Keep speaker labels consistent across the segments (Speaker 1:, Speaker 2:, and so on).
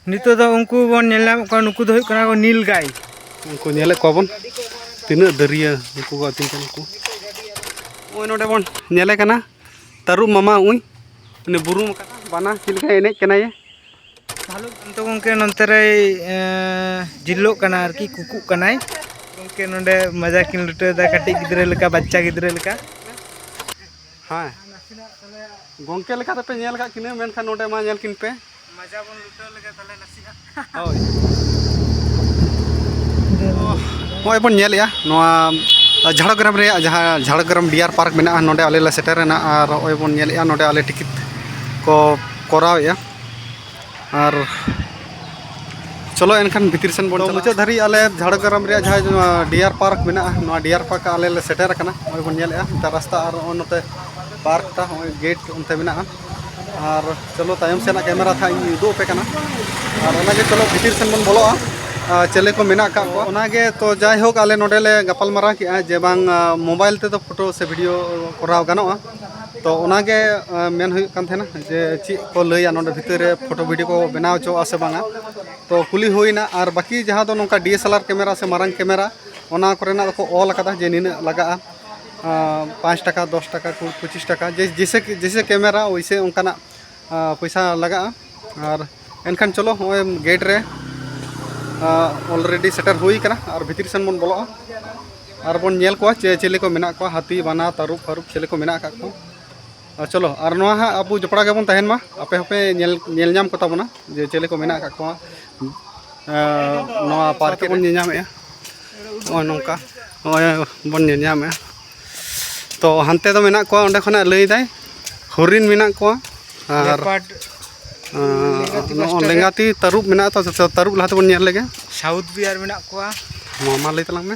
Speaker 1: ᱱᱤᱛᱚᱜ ᱫᱚ ᱩᱱᱠᱩ ᱵᱚᱱ ᱧᱮᱞ ᱧᱟᱢᱮᱫ ᱠᱚᱣᱟ ᱱᱩᱠᱩ ᱫᱚ ᱦᱩᱭᱩᱜ ᱠᱟᱱᱟ ᱠᱚ ᱱᱤᱞ ᱜᱟᱭ ᱩᱱᱠᱩ ᱧᱮᱞᱮᱫ
Speaker 2: ᱠᱚᱣᱟ ᱵᱚᱱ ᱛᱤᱱᱟᱹᱜ ᱫᱟᱹᱨᱭᱟᱹ ᱩᱱᱠᱩ ᱠᱚ ᱟᱹᱛᱤᱧ ᱠᱟᱱᱟ ᱠᱚ ᱱᱚᱜᱼᱚᱭ ᱱᱚᱰᱮ ᱵᱚᱱ ᱧᱮᱞᱮ ᱠᱟᱱᱟ ᱛᱟᱹᱨᱩᱵ ᱢᱟᱢᱟ ᱩᱱᱤ ᱩᱱᱤ ᱵᱩᱨᱩᱢ ᱟᱠᱟᱱᱟ ᱵᱟᱱᱟ ᱪᱮᱫ ᱞᱮᱠᱟᱭ ᱮᱱᱮᱡ ᱠᱟᱱᱟᱭᱮ ᱵᱷᱟᱞᱩᱠ
Speaker 1: ᱠᱟᱱᱛᱚ ᱜᱚᱢᱠᱮ ᱱᱚᱱᱛᱮ ᱨᱮᱭ ᱡᱤᱞᱞᱚᱜ ᱠᱟᱱᱟ ᱟᱨᱠᱤ ᱠᱩᱠᱩᱜ ᱠᱟᱱᱟᱭ ᱜᱚᱢᱠᱮ ᱱᱚᱰᱮ ᱢᱟᱡᱟ ᱠᱤᱱ ᱞᱩᱴᱟᱹᱣᱫᱟ ᱠᱟᱹᱴᱤᱡ ᱜᱤᱫᱽᱨᱟᱹ ᱞᱮᱠᱟ ᱵᱟᱪᱪᱟ ᱜᱤᱫᱽᱨᱟᱹ ᱞᱮᱠᱟ
Speaker 2: ᱦᱮᱸ ᱜᱚᱢᱠᱮ ᱞᱮᱠᱟ ᱫᱚᱯᱮ ᱧᱮᱞ ᱠᱟᱜ ᱠᱤᱱᱟᱹ ᱢᱮᱱᱠᱷᱟᱱ ᱱᱚᱰᱮ ᱢᱟ ᱧᱮᱞ ᱠᱤᱱ ᱯᱮ ᱢᱟᱡᱟ ᱵᱚᱱ ᱞᱩᱴᱟᱹᱣ ᱞᱮᱜᱮ ᱛᱟᱦᱞᱮ ᱱᱟᱥᱮᱱᱟᱜ ᱦᱳᱭ ᱱᱚᱜᱼᱚᱭ ᱵᱚᱱ ᱧᱮᱞᱮᱜᱼᱟ ᱱᱚᱣᱟ ᱡᱷᱟᱲᱜᱨᱟᱢ ᱨᱮᱭᱟᱜ ᱡᱟᱦᱟᱸ ᱡᱷᱟᱲᱜᱨᱟᱢ ᱰᱤᱭᱟᱨ ᱯᱟᱨᱠ ᱢᱮᱱᱟᱜᱼᱟ ᱱᱚᱰᱮ ᱟᱞᱮ ᱞᱮ ᱥᱮᱴᱮᱨᱮᱱᱟ ᱟᱨ ᱱᱚᱜᱼᱚᱭ ᱵᱚᱱ ᱧᱮᱞᱮᱜᱼᱟ ᱱᱚᱰᱮ ᱟᱞᱮ ᱴᱤᱠᱤᱴ ᱠᱚ ᱠᱚᱨᱟᱣᱮᱜᱼᱟ ᱟᱨ ᱪᱚᱞᱚ ᱮᱱᱠᱷᱟᱱ ᱵᱷᱤᱛᱤᱨ ᱥᱮᱱ ᱵᱚᱱ ᱢᱩᱪᱟᱹᱫ ᱫᱷᱟᱹᱨᱤᱡ ᱟᱞᱮ ᱡᱷᱟᱲᱜᱨᱟᱢ ᱨᱮᱭᱟᱜ ᱡᱟᱦᱟᱸ ᱰᱤᱭᱟᱨ ᱯᱟᱨᱠ ᱢᱮᱱᱟᱜᱼᱟ ᱱᱚᱣᱟ ᱰᱤᱭᱟᱨ ᱯᱟᱨᱠ ᱟᱞᱮ ᱞᱮ ᱥᱮᱴᱮᱨ ᱟᱠᱟᱱᱟ ᱱᱚᱜᱼᱚᱭ ᱵᱚᱱ ᱧᱮᱞᱮᱜᱼᱟ ᱱᱚᱛᱮ ᱨᱟᱥᱛᱟ ᱟᱨ ᱱᱚᱜᱼᱚᱭ ᱱᱚᱛᱮ ᱯᱟᱨᱠ ᱴᱟᱜ ᱱᱚᱜᱼᱚᱭ ᱜᱮᱴ ᱚᱱᱛᱮ ᱢᱮᱱᱟᱜᱼᱟ ᱟᱨ ᱪᱚᱞᱚ ᱛᱟᱭᱚᱢ ᱥᱮᱱᱟᱜ ᱠᱮᱢᱮᱨᱟ ᱛᱷᱟᱜ ᱤᱧ ᱩᱫᱩᱜ ᱟᱯᱮ ᱠᱟᱱᱟ ᱟᱨ ᱚᱱᱟᱜᱮ ᱪᱚᱞᱚ ᱵᱷᱤᱛᱤᱨ ᱥᱮᱱ ᱵᱚᱱ ᱵᱚᱞᱚᱜᱼᱟ ᱪᱮᱞᱮ ᱠᱚ ᱢᱮᱱᱟᱜ ᱟᱠᱟᱫ ᱠᱚᱣᱟ ᱚᱱᱟᱜᱮ ᱛᱚ ᱡᱟᱭᱦᱳᱠ ᱟᱞᱮ ᱱᱚᱰᱮ ᱞᱮ ᱜᱟᱯᱟᱞ ᱢᱟᱨᱟᱣ ᱠᱮᱜᱼᱟ ᱡᱮ ᱵᱟᱝ ᱢᱳᱵᱟᱭᱤᱞ ᱛᱮᱫᱚ ᱯᱷᱳᱴᱳ ᱥᱮ ᱵᱷᱤᱰᱤᱭᱳ ᱠᱚᱨᱟᱣ ᱜᱟᱱᱚᱜᱼᱟ ᱛᱚ ᱚᱱᱟᱜᱮ ᱢᱮᱱ ᱦᱩᱭᱩᱜ ᱠᱟᱱ ᱛᱟᱦᱮᱱᱟ ᱡᱮ ᱪᱮᱫ ᱠᱚ ᱞᱟᱹᱭᱟ ᱱᱚᱰᱮ ᱵᱷᱤᱛᱤᱨ ᱨᱮ ᱯᱷᱳᱴᱳ ᱵᱷᱤᱰᱤᱭᱳ ᱠᱚ ᱵᱮᱱᱟᱣ ᱦᱚᱪᱚᱣᱟᱜᱼᱟ ᱥᱮ ᱵᱟᱝᱟ ᱛᱚ ᱠᱩᱞᱤ ᱦᱩᱭᱱᱟ ᱟᱨ ᱵᱟᱹᱠᱤ ᱡᱟᱦᱟᱸ ᱫᱚ ᱱᱚᱝᱠᱟ D S L R camera ᱥᱮ ᱢᱟᱨᱟᱝ ᱠᱮᱢᱮᱨᱟ ᱚᱱᱟ ᱠᱚᱨᱮᱱᱟᱜ ᱫᱚᱠᱚ ᱚᱞ ᱟᱠᱟᱫᱟ ᱡᱮ ᱱᱤᱱᱟᱹᱜ ᱞᱟᱜᱟᱜᱼᱟ ᱯᱟᱸᱪ ᱴᱟᱠᱟ ᱫᱚᱥ ᱴᱟᱠᱟ ᱠᱩᱲᱤ ᱯᱚᱸᱪᱤᱥ ᱴᱟᱠᱟ ᱡᱮᱭᱥᱮ ᱠᱤ ᱡᱮᱭᱥᱮ ᱠᱮᱢᱮᱨᱟ ᱳᱭᱥᱮ ᱚᱱᱠᱟᱱᱟᱜ ᱯᱚᱭᱥᱟ ᱞᱟᱜᱟᱜᱼᱟ ᱟᱨ ᱮᱱᱠᱷᱟᱱ ᱪᱚᱞᱚ ᱦᱚᱸᱜᱼᱚᱭ ᱜᱮᱴ ᱨᱮ ᱚᱞᱨᱮᱰᱤ ᱥᱮᱴᱮᱨ ᱦᱩᱭ ᱠᱟᱱᱟ ᱟᱨ ᱵᱷᱤᱛᱤᱨ ᱥᱮᱱ ᱵᱚᱱ ᱵᱚᱞᱚᱜᱼᱟ ᱟᱨ ᱵᱚᱱ ᱧᱮᱞ ᱠᱚᱣᱟ ᱪᱮ ᱪᱤᱞᱤ ᱠᱚ ᱢᱮᱱᱟᱜ ᱠᱚᱣᱟ ᱦᱟᱹᱛᱤ ᱵᱟᱱᱟ ᱛᱟᱹᱨᱩᱵ ᱯᱷᱟᱹᱨᱩᱵ ᱪᱤᱞᱤ ᱠᱚ ᱢᱮᱱᱟᱜ ᱟᱠᱟᱫ ᱠᱚᱣᱟ ᱟᱨ ᱪᱚᱞᱚ ᱟᱨ ᱱᱚᱣᱟ ᱦᱟᱸᱜ ᱟᱵᱚ ᱡᱚᱯᱲᱟᱣ ᱜᱮᱵᱚᱱ ᱛᱟᱦᱮᱱ ᱢᱟ ᱟᱯᱮ ᱦᱚᱸᱯᱮ ᱧᱮᱞ ᱧᱮᱞ ᱧᱟᱢ ᱠᱚᱛᱟ ᱵᱚᱱᱟ ᱡᱮ ᱪᱮᱞᱮ ᱠᱚ ᱢᱮᱱᱟᱜ ᱟᱠᱟᱫ ᱠᱚᱣᱟ ᱱᱚᱣᱟ ᱯᱟᱨᱠ ᱵᱚᱱ ᱧᱮᱞ ᱧᱟᱢᱮᱜᱼᱟ ᱱᱚᱜᱼᱚᱭ ᱱᱚᱝᱠᱟ ᱱᱚᱜᱼᱚᱭ ᱵᱚᱱ ᱧᱮᱞ ᱧᱟᱢᱮᱜᱼᱟ ᱛᱚ ᱦᱟᱱᱛᱮ ᱫᱚ ᱢᱮᱱᱟᱜ ᱠᱚᱣᱟ ᱚᱸᱰᱮ ᱠᱷᱚᱱᱟᱜ ᱞᱟᱹᱭᱫᱟᱭ ᱦᱚᱨᱤᱱ ᱢᱮᱱᱟᱜ ᱠᱚᱣᱟ ᱟᱨ ᱱᱚᱜᱼᱚ ᱞᱮᱸᱜᱟᱛᱤ ᱛᱟᱹᱨᱩᱵ ᱢᱮᱱᱟᱜ ᱛᱚ ᱛᱟᱹᱨᱩᱵ ᱞᱟᱦᱟ ᱛᱮᱵᱚᱱ ᱧᱮᱞ ᱞᱮᱜᱮ ᱥᱟᱣᱩᱛᱷ ᱵᱤᱭᱟᱨ ᱢᱮᱱᱟᱜ
Speaker 1: ᱠᱚᱣᱟ ᱢᱟ ᱞᱟᱹᱭ ᱛᱟᱞᱟᱝ
Speaker 2: ᱢᱮ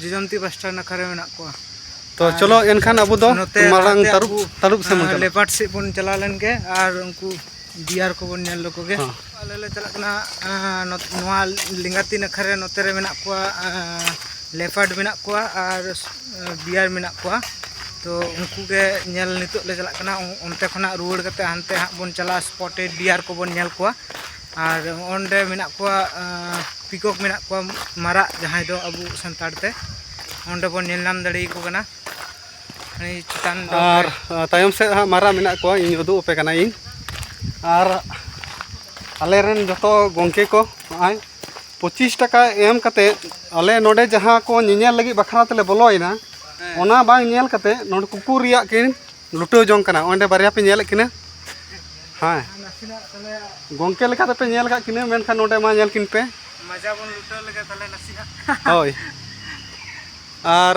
Speaker 1: ᱡᱚᱡᱚᱱᱛᱤ ᱯᱟᱥᱴᱟ ᱱᱟᱠᱷᱟ ᱨᱮ ᱢᱮᱱᱟᱜ ᱠᱚᱣᱟ ᱛᱚ ᱪᱚᱞᱚ
Speaker 2: ᱮᱱᱠᱷᱟᱱ ᱟᱵᱚ ᱫᱚ ᱢᱟᱨᱟᱝ ᱛᱟᱹᱨᱩᱵ ᱛᱟᱹᱨᱩᱵ ᱥᱮᱫ ᱵᱚᱱ ᱪᱟᱞᱟᱜᱼᱟ ᱞᱮᱯᱟᱨᱰ ᱥᱮᱫ ᱵᱚᱱ ᱪᱟᱞᱟᱣ
Speaker 1: ᱞᱮᱱ ᱜᱮ ᱟᱨ ᱩᱱᱠᱩ ᱵᱤᱭᱟᱨ ᱠᱚᱵᱚᱱ ᱧᱮᱞ ᱞᱮᱠᱚ ᱜᱮ ᱟᱞᱮ ᱞᱮ ᱪᱟᱞᱟᱜ ᱠᱟᱱᱟ ᱱᱚᱣᱟ ᱞᱮᱸᱜᱟᱛᱤ ᱱᱟᱠᱷᱟ ᱨᱮ ᱱᱚᱛᱮ ᱨᱮ ᱢᱮᱱᱟᱜ ᱠᱚᱣᱟ ᱞᱮᱯᱟᱨᱰ ᱢᱮᱱᱟᱜ ᱠᱚᱣᱟ ᱟᱨ ᱵᱤᱭᱟᱨ ᱢᱮᱱᱟᱜ ᱠᱚᱣᱟ ᱛᱚ ᱩᱱᱠᱩ ᱜᱮ ᱧᱮᱞ ᱱᱤᱛᱚᱜ ᱞᱮ ᱪᱟᱞᱟᱜ ᱠᱟᱱᱟ ᱚᱱᱛᱮ ᱠᱷᱚᱱᱟᱜ ᱨᱩᱣᱟᱹᱲ ᱠᱟᱛᱮ ᱦᱟᱱᱛᱮ ᱦᱟᱸᱜ ᱵᱚᱱ ᱪᱟᱞᱟᱜᱼᱟ ᱥᱯᱚᱴᱮᱰ ᱰᱤᱭᱟᱨ ᱠᱚᱵᱚᱱ ᱧᱮᱞ ᱠᱚᱣᱟ ᱟᱨ ᱚᱸᱰᱮ ᱢᱮᱱᱟᱜ ᱠᱚᱣᱟ ᱯᱤᱠᱚᱠ ᱢᱮᱱᱟᱜ ᱠᱚᱣᱟ ᱢᱟᱨᱟᱜ ᱡᱟᱦᱟᱸᱭ ᱫᱚ ᱟᱵᱚ ᱥᱟᱱᱛᱟᱲ ᱛᱮ ᱚᱸᱰᱮ ᱵᱚᱱ ᱧᱮᱞ ᱧᱟᱢ ᱫᱟᱲᱮ ᱟᱠᱚ ᱠᱟᱱᱟ ᱪᱮᱛᱟᱱ ᱟᱨ
Speaker 2: ᱛᱟᱭᱚᱢ ᱥᱮᱫ ᱦᱟᱸᱜ ᱢᱟᱨᱟᱜ ᱢᱮᱱᱟᱜ ᱠᱚᱣᱟ ᱤᱧ ᱩᱫᱩᱜ ᱟᱯᱮ ᱠᱟᱱᱟ ᱤᱧ ᱟᱨ ᱟᱞᱮ ᱨᱮᱱ ᱡᱚᱛᱚ ᱜᱚᱢᱠᱮ ᱠᱚ ᱱᱚᱜᱼᱚᱭ ᱯᱚᱸᱪᱤᱥ ᱴᱟᱠᱟ ᱮᱢ ᱠᱟᱛᱮ ᱟᱞᱮ ᱱᱚᱰᱮ ᱡᱟᱦᱟᱸ ᱠᱚ ᱧᱮᱧᱮᱞ ᱞᱟᱹᱜᱤᱫ ᱵᱟᱠᱷᱨᱟ ᱛᱮᱞᱮ ᱵᱚᱞᱚᱭᱮᱱᱟ ᱚᱱᱟ ᱵᱟᱝ ᱧᱮᱞ ᱠᱟᱛᱮ ᱱᱚᱰᱮ ᱠᱩᱠᱩᱨ ᱨᱮᱭᱟᱜ ᱠᱤᱱ ᱞᱩᱴᱟᱹᱣ ᱡᱚᱝ ᱠᱟᱱᱟ ᱚᱸᱰᱮ ᱵᱟᱨᱭᱟ ᱯᱮ ᱧᱮᱞᱮᱫ ᱠᱤᱱᱟ ᱦᱮᱸ ᱜᱚᱝᱠᱮ ᱞᱮᱠᱟ ᱫᱚᱯᱮ ᱧᱮᱞ ᱠᱟᱜ ᱠᱤᱱᱟ ᱢᱮᱱᱠᱷᱟᱱ ᱱᱚᱸᱰᱮ ᱢᱟ ᱧᱮᱞ ᱠᱤᱱ ᱯᱮ ᱢᱟᱡᱟ ᱵᱚᱱ ᱞᱩᱴᱟᱹᱣ
Speaker 1: ᱞᱮᱜᱮ ᱛᱟᱦᱞᱮ
Speaker 2: ᱱᱟᱥᱮᱱᱟᱜ ᱦᱳᱭ ᱟᱨ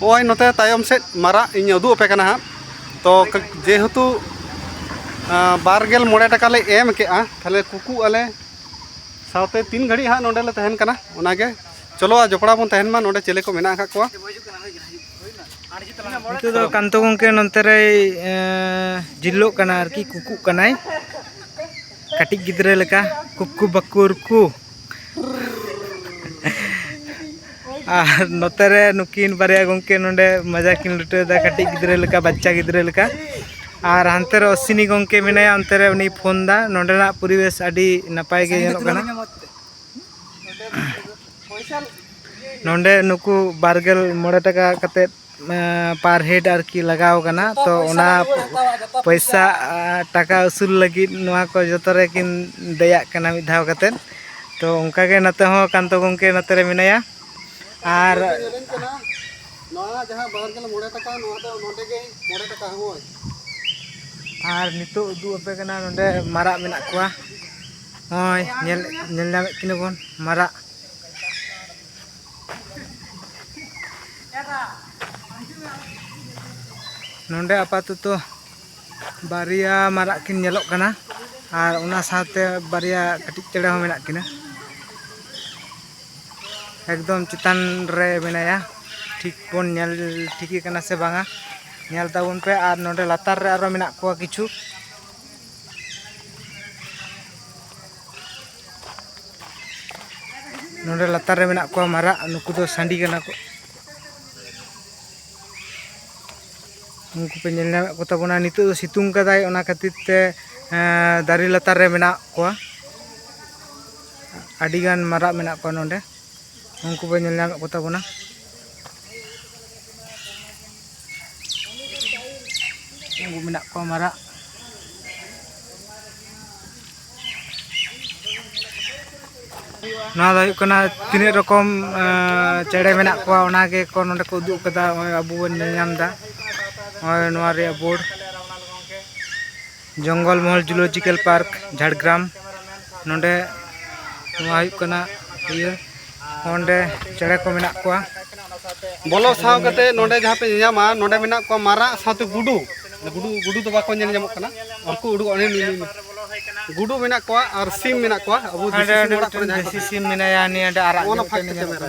Speaker 2: ᱱᱚᱜᱼᱚᱭ ᱱᱚᱛᱮ ᱛᱟᱭᱚᱢ ᱥᱮᱫ ᱢᱟᱨᱟᱜ ᱤᱧ ᱩᱫᱩᱜ ᱟᱯᱮ ᱠᱟᱱᱟ ᱦᱟᱸᱜ ᱛᱚ ᱡᱮᱦᱮᱛᱩ ᱵᱟᱨᱜᱮᱞ ᱢᱚᱬᱮ ᱴᱟᱠᱟ ᱞᱮ ᱮᱢ ᱠᱮᱜᱼᱟ ᱛᱟᱦᱞᱮ ᱠᱩᱠᱩ ᱟᱞᱮ ᱥᱟᱶᱛᱮ ᱛᱤᱱ ᱜᱷᱟᱹᱲᱤᱡ ᱦᱟᱸᱜ ᱱᱚᱸᱰᱮ ᱞᱮ ᱛᱟᱦᱮᱱ ᱠᱟᱱᱟ ᱚᱱᱟᱜᱮ ᱪᱚᱞᱚ ᱡᱚᱯᱲᱟᱣ ᱵᱚᱱ ᱛᱟᱦᱮᱱ ᱢᱟ ᱱᱚᱸᱰᱮ ᱪᱮᱞᱮ ᱠᱚ ᱢᱮᱱᱟᱜ ᱟᱠᱟᱫ ᱠᱚᱣᱟ
Speaker 1: ᱱᱤᱛᱚᱜ ᱫᱚ ᱠᱟᱱᱛᱚ ᱜᱚᱢᱠᱮ ᱱᱚᱱᱛᱮ ᱨᱮᱭ ᱡᱤᱞᱞᱚᱜ ᱠᱟᱱᱟ ᱟᱨᱠᱤ ᱠᱩᱠᱩᱜ ᱠᱟᱱᱟᱭ ᱠᱟᱹᱴᱤᱡ ᱜᱤᱫᱽᱨᱟᱹ ᱞᱮᱠᱟ ᱠᱩᱠᱩ ᱵᱟᱠᱩᱨ ᱠᱩ ᱟᱨ ᱱᱚᱛᱮ ᱨᱮ ᱱᱩᱠᱤᱱ ᱵᱟᱨᱭᱟ ᱜᱚᱢᱠᱮ ᱱᱚᱰᱮ ᱢᱟᱡᱟ ᱠᱤᱱ ᱞᱩᱴᱟᱹᱣᱫᱟ ᱠᱟᱹᱴᱤᱡ ᱜᱤᱫᱽᱨᱟᱹ ᱞᱮᱠᱟ ᱵᱟᱪᱪᱟ ᱜᱤᱫᱽᱨᱟᱹ ᱞᱮᱠᱟ ᱟᱨ ᱦᱟᱱᱛᱮ ᱨᱮ ᱚᱥᱤᱱᱤ ᱜᱚᱢᱠᱮ ᱢᱮᱱᱟᱭᱟ ᱚᱱᱛᱮ ᱨᱮ ᱩᱱᱤ ᱯᱷᱳᱱ ᱫᱟ ᱱᱚᱰᱮᱱᱟᱜ ᱯᱚᱨᱤᱵᱮᱥ ᱟᱹᱰᱤ ᱱᱟᱯᱟᱭ ᱜᱮ ᱧᱮᱞᱚᱜ ᱠᱟᱱᱟ ᱱᱚᱰᱮ ᱱᱩᱠᱩ ᱵᱟᱨᱜᱮᱞ ᱢᱚᱬᱮ ᱴᱟᱠᱟ ᱠᱟᱛᱮᱫ ᱯᱟᱨ ᱦᱮᱰ ᱟᱨᱠᱤ ᱞᱟᱜᱟᱣ ᱠᱟᱱᱟ ᱛᱚ ᱚᱱᱟ ᱯᱚᱭᱥᱟ ᱴᱟᱠᱟ ᱩᱥᱩᱞ ᱞᱟᱹᱜᱤᱫ ᱱᱚᱣᱟ ᱠᱚ ᱡᱚᱛᱚ ᱨᱮᱠᱤᱱ ᱫᱮᱭᱟᱜ ᱠᱟᱱᱟ ᱢᱤᱫ ᱫᱷᱟᱣ ᱠᱟᱛᱮᱫ ᱛᱚ ᱚᱱᱠᱟ ᱜᱮ ᱱᱚᱛᱮ ᱦᱚᱸ ᱠᱟᱱᱛᱚ ᱜᱚᱢᱠᱮ ᱱᱚᱛᱮ ᱨᱮ ᱢᱮᱱᱟᱭᱟ ᱟᱨ ᱟᱨ ᱱᱤᱛᱚᱜ ᱩᱫᱩᱜ ᱟᱯᱮ ᱠᱟᱱᱟ ᱱᱚᱰᱮ ᱢᱟᱨᱟᱜ ᱢᱮᱱᱟᱜ ᱠᱚᱣᱟ ᱱᱚᱜᱼᱚᱭ ᱧᱮᱞ ᱧᱮᱞ ᱧᱟᱢᱮᱫ ᱠᱤᱱᱟ ᱵᱚᱱ ᱢᱟᱨᱟᱜ ᱱᱚᱰᱮ ᱟᱯᱟᱛᱚᱛᱚ ᱵᱟᱨᱭᱟ ᱢᱟᱨᱟᱜ ᱠᱤᱱ ᱧᱮᱞᱚᱜ ᱠᱟᱱᱟ ᱟᱨ ᱚᱱᱟ ᱥᱟᱶᱛᱮ ᱵᱟᱨᱭᱟ ᱠᱟᱹᱴᱤᱡ ᱪᱮᱬᱮ ᱦᱚᱸ ᱢᱮᱱᱟᱜ ᱠᱤᱱᱟ ᱮᱠᱫᱚᱢ ᱪᱮᱛᱟᱱ ᱨᱮ ᱢᱮᱱᱟᱭᱟ ᱴᱷᱤᱠ ᱵᱚᱱ ᱧᱮᱞ ᱴᱷᱤᱠᱮ ᱠᱟᱱᱟ ᱥᱮ ᱵᱟᱝᱟ ᱧᱮᱞ ᱛᱟᱵᱚᱱ ᱯᱮ ᱟᱨ ᱱᱚᱰᱮ ᱞᱟᱛᱟᱨ ᱨᱮ ᱟᱨᱚ ᱢᱮᱱᱟᱜ ᱠᱚᱣᱟ ᱠᱤᱪᱷᱩ ᱱᱚᱰᱮ ᱞᱟᱛᱟᱨ ᱨᱮ ᱢᱮᱱᱟᱜ ᱠᱚᱣᱟ ᱢᱟᱨᱟᱜ ᱱᱩᱠᱩ ᱫᱚ ᱥᱟᱺᱰᱤ ᱠᱟᱱᱟ ᱠᱚ ᱩᱱᱠᱩ ᱯᱮ ᱧᱮᱞ ᱧᱟᱢᱮᱫ ᱠᱚ ᱛᱟᱵᱚᱱᱟ ᱱᱤᱛᱚᱜ ᱫᱚ ᱥᱤᱛᱩᱝ ᱠᱟᱫᱟᱭ ᱚᱱᱟ ᱠᱷᱟᱹᱛᱤᱨ ᱛᱮ ᱫᱟᱨᱮ ᱞᱟᱛᱟᱨ ᱨᱮ ᱢᱮᱱᱟᱜ ᱠᱚᱣᱟ ᱟᱹᱰᱤᱜᱟᱱ ᱢᱟᱨᱟᱜ ᱢᱮᱱᱟᱜ ᱠᱚᱣᱟ ᱱᱚᱰᱮ ᱩᱱᱠᱩ ᱯᱮ ᱧᱮᱞ ᱧᱟᱢᱮᱫ ᱠᱚ ᱛᱟᱵᱚᱱᱟ ᱩᱱᱠᱩ ᱢᱮᱱᱟᱜ ᱠᱚᱣᱟ ᱢᱟᱨᱟᱜ ᱱᱚᱣᱟ ᱫᱚ ᱦᱩᱭᱩᱜ ᱠᱟᱱᱟ ᱛᱤᱱᱟᱹᱜ ᱨᱚᱠᱚᱢ ᱪᱮᱬᱮ ᱢᱮᱱᱟᱜ ᱠᱚᱣᱟ ᱚᱱᱟ ᱜᱮᱠᱚ ᱱᱚᱰᱮ ᱠᱚ ᱩᱫᱩᱜ ᱠᱟᱫᱟ ᱱᱚᱜᱼᱚᱭ ᱟᱵᱚ ᱵᱚᱱ ᱧᱮᱞ ᱧᱟᱢᱫᱟ ᱱᱚᱜᱼᱚᱭ ᱱᱚᱣᱟ ᱨᱮᱭᱟᱜ ᱵᱳᱨᱰ ᱡᱚᱝᱜᱚᱞ ᱢᱚᱦᱚᱞ ᱡᱩᱞᱚᱡᱤᱠᱟᱞ ᱯᱟᱨᱠ ᱡᱷᱟᱲᱜᱨᱟᱢ ᱱᱚᱰᱮ ᱱᱚᱣᱟ ᱦᱩᱭᱩᱜ ᱠᱟᱱᱟ ᱤᱭᱟᱹ ᱚᱸᱰᱮ ᱪᱮᱬᱮ ᱠᱚ ᱢᱮᱱᱟᱜ ᱠᱚᱣᱟ ᱵᱚᱞᱚ
Speaker 2: ᱥᱟᱶ ᱠᱟᱛᱮ ᱱᱚᱰᱮ ᱡᱟᱦᱟᱸ ᱯᱮ ᱧᱟᱢᱟ ᱱᱚᱰᱮ ᱢᱮᱱᱟᱜ ᱠᱚᱣᱟ ᱢᱟᱨᱟᱜ ᱥᱟᱶᱛᱮ ᱜᱩᱰᱩ ᱜᱩᱰᱩ ᱜᱩᱰᱩ ᱫᱚ ᱵᱟᱠᱚ ᱧᱮᱞ ᱧᱟᱢᱚᱜ ᱠᱟᱱᱟ ᱩᱱᱠᱩ ᱩᱰᱩᱠ ᱚᱱᱮ ᱜᱩᱰᱩ ᱢᱮᱱᱟᱜ ᱠᱚᱣᱟ ᱟᱨ ᱥᱤᱢ ᱢᱮᱱᱟᱜ ᱠᱚᱣᱟ ᱟᱵᱚ ᱫᱮᱥᱤ
Speaker 1: ᱥᱤᱢ ᱢᱮᱱᱟᱭᱟ ᱱᱤᱭᱟᱹ ᱟᱨᱟᱜ ᱚᱱᱟ ᱯᱷᱟᱸᱠ ᱛᱮ ᱠᱮᱢᱮᱨᱟ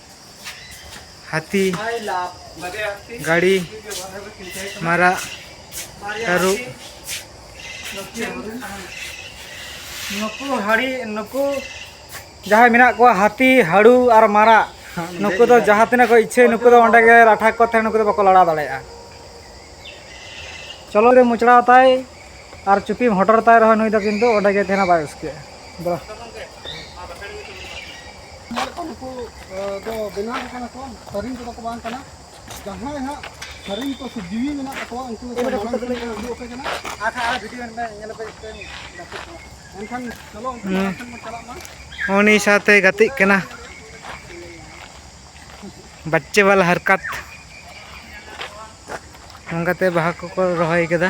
Speaker 1: ᱦᱟᱹᱛᱤ ᱜᱟᱹᱲᱤ ᱢᱟᱨᱟᱜ ᱛᱟᱹᱨᱩᱵ ᱱᱩᱠᱩ ᱦᱟᱹᱲᱤ ᱱᱩᱠᱩ ᱡᱟᱦᱟᱸᱭ ᱢᱮᱱᱟᱜ ᱠᱚᱣᱟ ᱦᱟᱹᱛᱤ ᱦᱟᱹᱲᱩ ᱟᱨ ᱢᱟᱨᱟᱜ ᱱᱩᱠᱩ ᱫᱚ ᱡᱟᱦᱟᱸ ᱛᱤᱱᱟᱹᱜ ᱠᱚ ᱤᱪᱪᱷᱟᱹᱭ ᱱᱩᱠᱩ ᱫᱚ ᱚᱸᱰᱮ ᱜᱮ ᱞᱟᱴᱷᱟ ᱠᱚ ᱛᱟᱦᱮᱸ ᱱᱩᱠᱩ ᱫᱚ ᱵᱟᱠᱚ ᱞᱟᱲᱟᱣ ᱫᱟᱲᱮᱭᱟᱜᱼᱟ ᱪᱚᱞᱚ ᱨᱮ ᱢᱚᱪᱲᱟᱣ ᱛᱟᱭ ᱟᱨ ᱪᱩᱯᱤᱢ ᱦᱚᱴᱚᱨ ᱛᱟᱭ ᱨᱮᱦᱚᱸ ᱱᱩᱭ ᱫᱚ ᱠᱤᱱᱛᱩ ᱚᱸᱰᱮ ᱜᱮ ᱛᱟᱦᱮᱱᱟ ᱵᱟᱭ ᱩᱥᱠᱮᱜᱼᱟ
Speaker 2: ᱩᱱᱤ ᱥᱟᱶᱛᱮ
Speaker 1: ᱜᱟᱛᱮᱜ ᱠᱟᱱᱟ ᱵᱟᱪᱪᱮ ᱵᱟᱞᱟ ᱦᱟᱨᱠᱟᱛ ᱱᱚᱝᱠᱟᱛᱮ ᱵᱟᱦᱟ ᱠᱚᱠᱚ ᱨᱚᱦᱚᱭ ᱠᱟᱫᱟ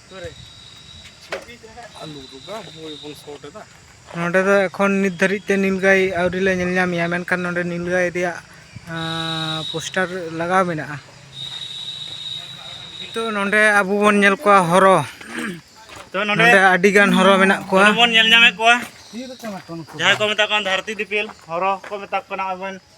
Speaker 1: ᱱᱚᱰᱮ ᱫᱚ ᱮᱠᱷᱚᱱ ᱱᱤᱛ ᱫᱷᱟᱹᱨᱤᱡ ᱛᱮ ᱱᱤᱞᱜᱟᱹᱭ ᱟᱹᱣᱨᱤ ᱞᱮ ᱧᱮᱞ ᱧᱟᱢᱮᱭᱟ ᱢᱮᱱᱠᱷᱟᱱ ᱱᱚᱰᱮ ᱱᱤᱞᱜᱟᱹᱭ ᱨᱮᱭᱟᱜ ᱯᱳᱥᱴᱟᱨ ᱞᱟᱜᱟᱣ ᱢᱮᱱᱟᱜᱼᱟ ᱱᱤᱛᱚᱜ ᱱᱚᱰᱮ ᱟᱵᱚ ᱵᱚᱱ ᱧᱮᱞ ᱠᱚᱣᱟ ᱦᱚᱨᱚ ᱛᱚ
Speaker 3: ᱱᱚᱰᱮ ᱟᱹᱰᱤ
Speaker 1: ᱜᱟᱱ ᱦᱚᱨᱚ ᱢᱮᱱᱟᱜ ᱠᱚᱣᱟ ᱵᱚᱱ ᱧᱮᱞ ᱧᱟᱢᱮᱫ ᱠᱚᱣᱟ
Speaker 3: ᱡᱟᱦᱟᱸᱭ ᱠᱚ ᱢᱮᱛᱟ ᱠᱚᱣᱟ ᱫᱷᱟᱹᱨᱛᱤ ᱫᱤᱯᱤᱞ ᱦᱚᱨᱚ ᱠᱚ ᱢᱮᱛᱟ ᱠᱚ ᱠᱟᱱᱟ ᱟᱵᱚ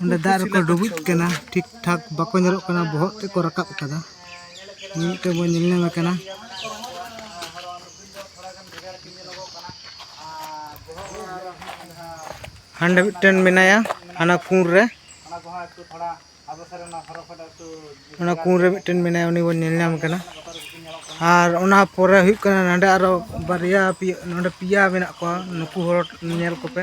Speaker 1: ᱚᱸᱰᱮ ᱫᱟᱜ ᱨᱮᱠᱚ ᱰᱩᱵᱩᱡ ᱠᱟᱱᱟ ᱴᱷᱤᱠ ᱴᱷᱟᱠ ᱵᱟᱠᱚ ᱧᱮᱞᱚᱜ ᱠᱟᱱᱟ ᱵᱚᱦᱚᱜ ᱛᱮᱫ ᱠᱚ ᱨᱟᱠᱟᱵ ᱠᱟᱫᱟ ᱢᱤᱫᱴᱮᱱ ᱵᱚᱱ ᱧᱮᱞ ᱧᱟᱢᱮ ᱠᱟᱱᱟ ᱦᱟᱸᱰᱮ ᱢᱤᱫᱴᱮᱱ ᱢᱮᱱᱟᱭᱟ ᱦᱟᱱᱟ ᱠᱩᱬ ᱨᱮ ᱚᱱᱟ ᱠᱩᱬ ᱨᱮ ᱢᱤᱫᱴᱮᱱ ᱢᱮᱱᱟᱭᱟ ᱩᱱᱤ ᱵᱚᱱ ᱧᱮᱞ ᱧᱟᱢ ᱠᱟᱱᱟ ᱟᱨ ᱚᱱᱟ ᱯᱚᱨᱮ ᱦᱩᱭᱩᱜ ᱠᱟᱱᱟ ᱱᱚᱸᱰᱮ ᱟᱨᱚ ᱵᱟᱨᱭᱟ ᱯᱮᱭᱟ ᱱᱚᱸᱰᱮ ᱯᱮᱭᱟ ᱢᱮᱱᱟᱜ ᱠᱚᱣᱟ ᱱᱩᱠᱩ ᱦᱚᱲ ᱧᱮᱞ ᱠᱚᱯᱮ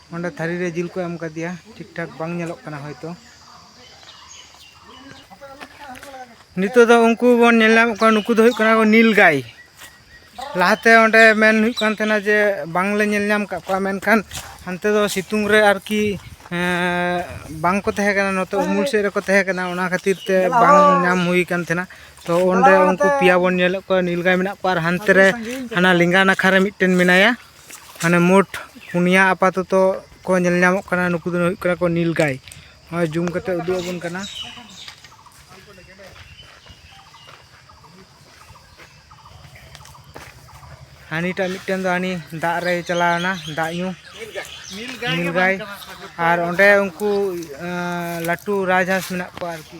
Speaker 1: ᱚᱸᱰᱮ ᱛᱷᱟᱹᱨᱤ ᱨᱮ ᱡᱤᱞ ᱠᱚ ᱮᱢ ᱠᱟᱫᱮᱭᱟ ᱴᱷᱤᱠ ᱴᱷᱟᱠ ᱵᱟᱝ ᱧᱮᱞᱚᱜ ᱠᱟᱱᱟ ᱦᱚᱭᱛᱚ ᱱᱤᱛᱚᱜ ᱫᱚ ᱩᱱᱠᱩ ᱵᱚᱱ ᱧᱮᱞ ᱧᱟᱢᱮᱫ ᱠᱚᱣᱟ ᱱᱩᱠᱩ ᱫᱚ ᱦᱩᱭᱩᱜ ᱠᱟᱱᱟ ᱠᱚ ᱱᱤᱞ ᱜᱟᱭ ᱞᱟᱦᱟᱛᱮ ᱚᱸᱰᱮ ᱢᱮᱱ ᱦᱩᱭᱩᱜ ᱠᱟᱱ ᱛᱟᱦᱮᱱᱟ ᱡᱮ ᱵᱟᱝᱞᱮ ᱧᱮᱞ ᱧᱟᱢ ᱠᱟᱜ ᱠᱚᱣᱟ ᱢᱮᱱᱠᱷᱟᱱ ᱦᱟᱱᱛᱮ ᱫᱚ ᱥᱤᱛᱩᱝ ᱨᱮ ᱟᱨᱠᱤ ᱵᱟᱝ ᱠᱚ ᱛᱟᱦᱮᱸ ᱠᱟᱱᱟ ᱱᱚᱛᱮ ᱩᱢᱩᱞ ᱥᱮᱫ ᱨᱮᱠᱚ ᱛᱟᱦᱮᱸ ᱠᱟᱱᱟ ᱚᱱᱟ ᱠᱷᱟᱹᱛᱤᱨ ᱛᱮ ᱵᱟᱝ ᱧᱟᱢ ᱦᱩᱭ ᱠᱟᱱ ᱛᱟᱦᱮᱱᱟ ᱛᱚ ᱚᱸᱰᱮ ᱩᱱᱠᱩ ᱯᱮᱭᱟ ᱵᱚᱱ ᱧᱮᱞᱮᱫ ᱠᱚᱣᱟ ᱱᱤᱞ ᱜᱟᱭ ᱢᱮᱱᱟᱜ ᱠᱚᱣᱟ ᱟᱨ ᱦᱟᱱᱛᱮ ᱨᱮ ᱦᱟᱱᱟ ᱞᱮᱸᱜᱟ ᱱᱟᱠᱷᱟ ᱨᱮ ᱢᱤᱫᱴᱮᱱ ᱢᱮᱱᱟᱭᱟ ᱢᱟᱱᱮ ᱢᱳᱴ ᱯᱩᱱᱭᱟ ᱟᱯᱟᱛᱚᱛᱚ ᱠᱚ ᱧᱮᱞ ᱧᱟᱢᱚᱜ ᱠᱟᱱᱟ ᱱᱩᱠᱩ ᱫᱚ ᱦᱩᱭᱩᱜ ᱠᱟᱱᱟ ᱠᱚ ᱱᱤᱞ ᱜᱟᱭ ᱱᱚᱜᱼᱚᱭ ᱡᱩᱢ ᱠᱟᱛᱮ ᱩᱫᱩᱜ ᱟᱵᱚᱱ ᱠᱟᱱᱟ ᱦᱟᱹᱱᱤᱴᱟᱜ ᱢᱤᱫᱴᱮᱱ ᱫᱚ ᱦᱟᱹᱱᱤ ᱫᱟᱜ ᱨᱮ ᱪᱟᱞᱟᱣᱮᱱᱟ ᱫᱟᱜ ᱧᱩ ᱱᱤᱞ ᱜᱟᱭ ᱟᱨ ᱚᱸᱰᱮ ᱩᱱᱠᱩ ᱞᱟᱹᱴᱩ ᱨᱟᱡᱽᱦᱟᱸᱥ ᱢᱮᱱᱟᱜ ᱠᱚᱣᱟ ᱟᱨᱠᱤ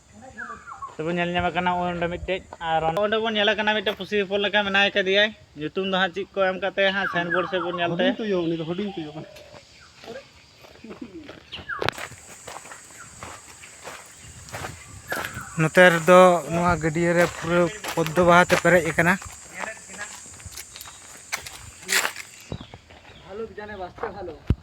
Speaker 3: ᱛᱚᱵᱚᱱ ᱧᱮᱞ ᱧᱟᱢᱮ ᱠᱟᱱᱟ ᱚᱸᱰᱮ ᱢᱤᱫᱴᱮᱡ ᱟᱨ ᱚᱸᱰᱮ ᱵᱚᱱ ᱧᱮᱞᱮ ᱠᱟᱱᱟ ᱢᱤᱫᱴᱮᱡ ᱯᱩᱥᱤ ᱦᱚᱯᱚᱱ ᱞᱮᱠᱟ ᱢᱮᱱᱟᱭ ᱠᱟᱫᱮᱭᱟᱭ ᱧᱩᱛᱩᱢ ᱫᱚ ᱦᱟᱸᱜ ᱪᱮᱫ ᱠᱚ ᱮᱢ ᱠᱟᱛᱮ ᱦᱟᱸᱜ ᱥᱟᱭᱤᱱ ᱵᱳᱨᱰ ᱥᱮᱫ ᱵᱚᱱ ᱧᱮᱞ ᱛᱮ ᱦᱩᱰᱤᱧ ᱛᱩᱭᱩ ᱩᱱᱤ ᱫᱚ ᱦᱩᱰᱤᱧ ᱛᱩᱭᱩ
Speaker 2: ᱠᱟᱱᱟ
Speaker 1: ᱱᱚᱛᱮ ᱨᱮᱫᱚ ᱱᱚᱣᱟ ᱜᱟᱹᱰᱭᱟᱹ ᱨᱮ ᱯᱩᱨᱟᱹ ᱯᱚᱫᱽᱫᱚ ᱵᱟᱦᱟ ᱛᱮ ᱯᱮᱨᱮᱡ ᱟᱠᱟᱱᱟ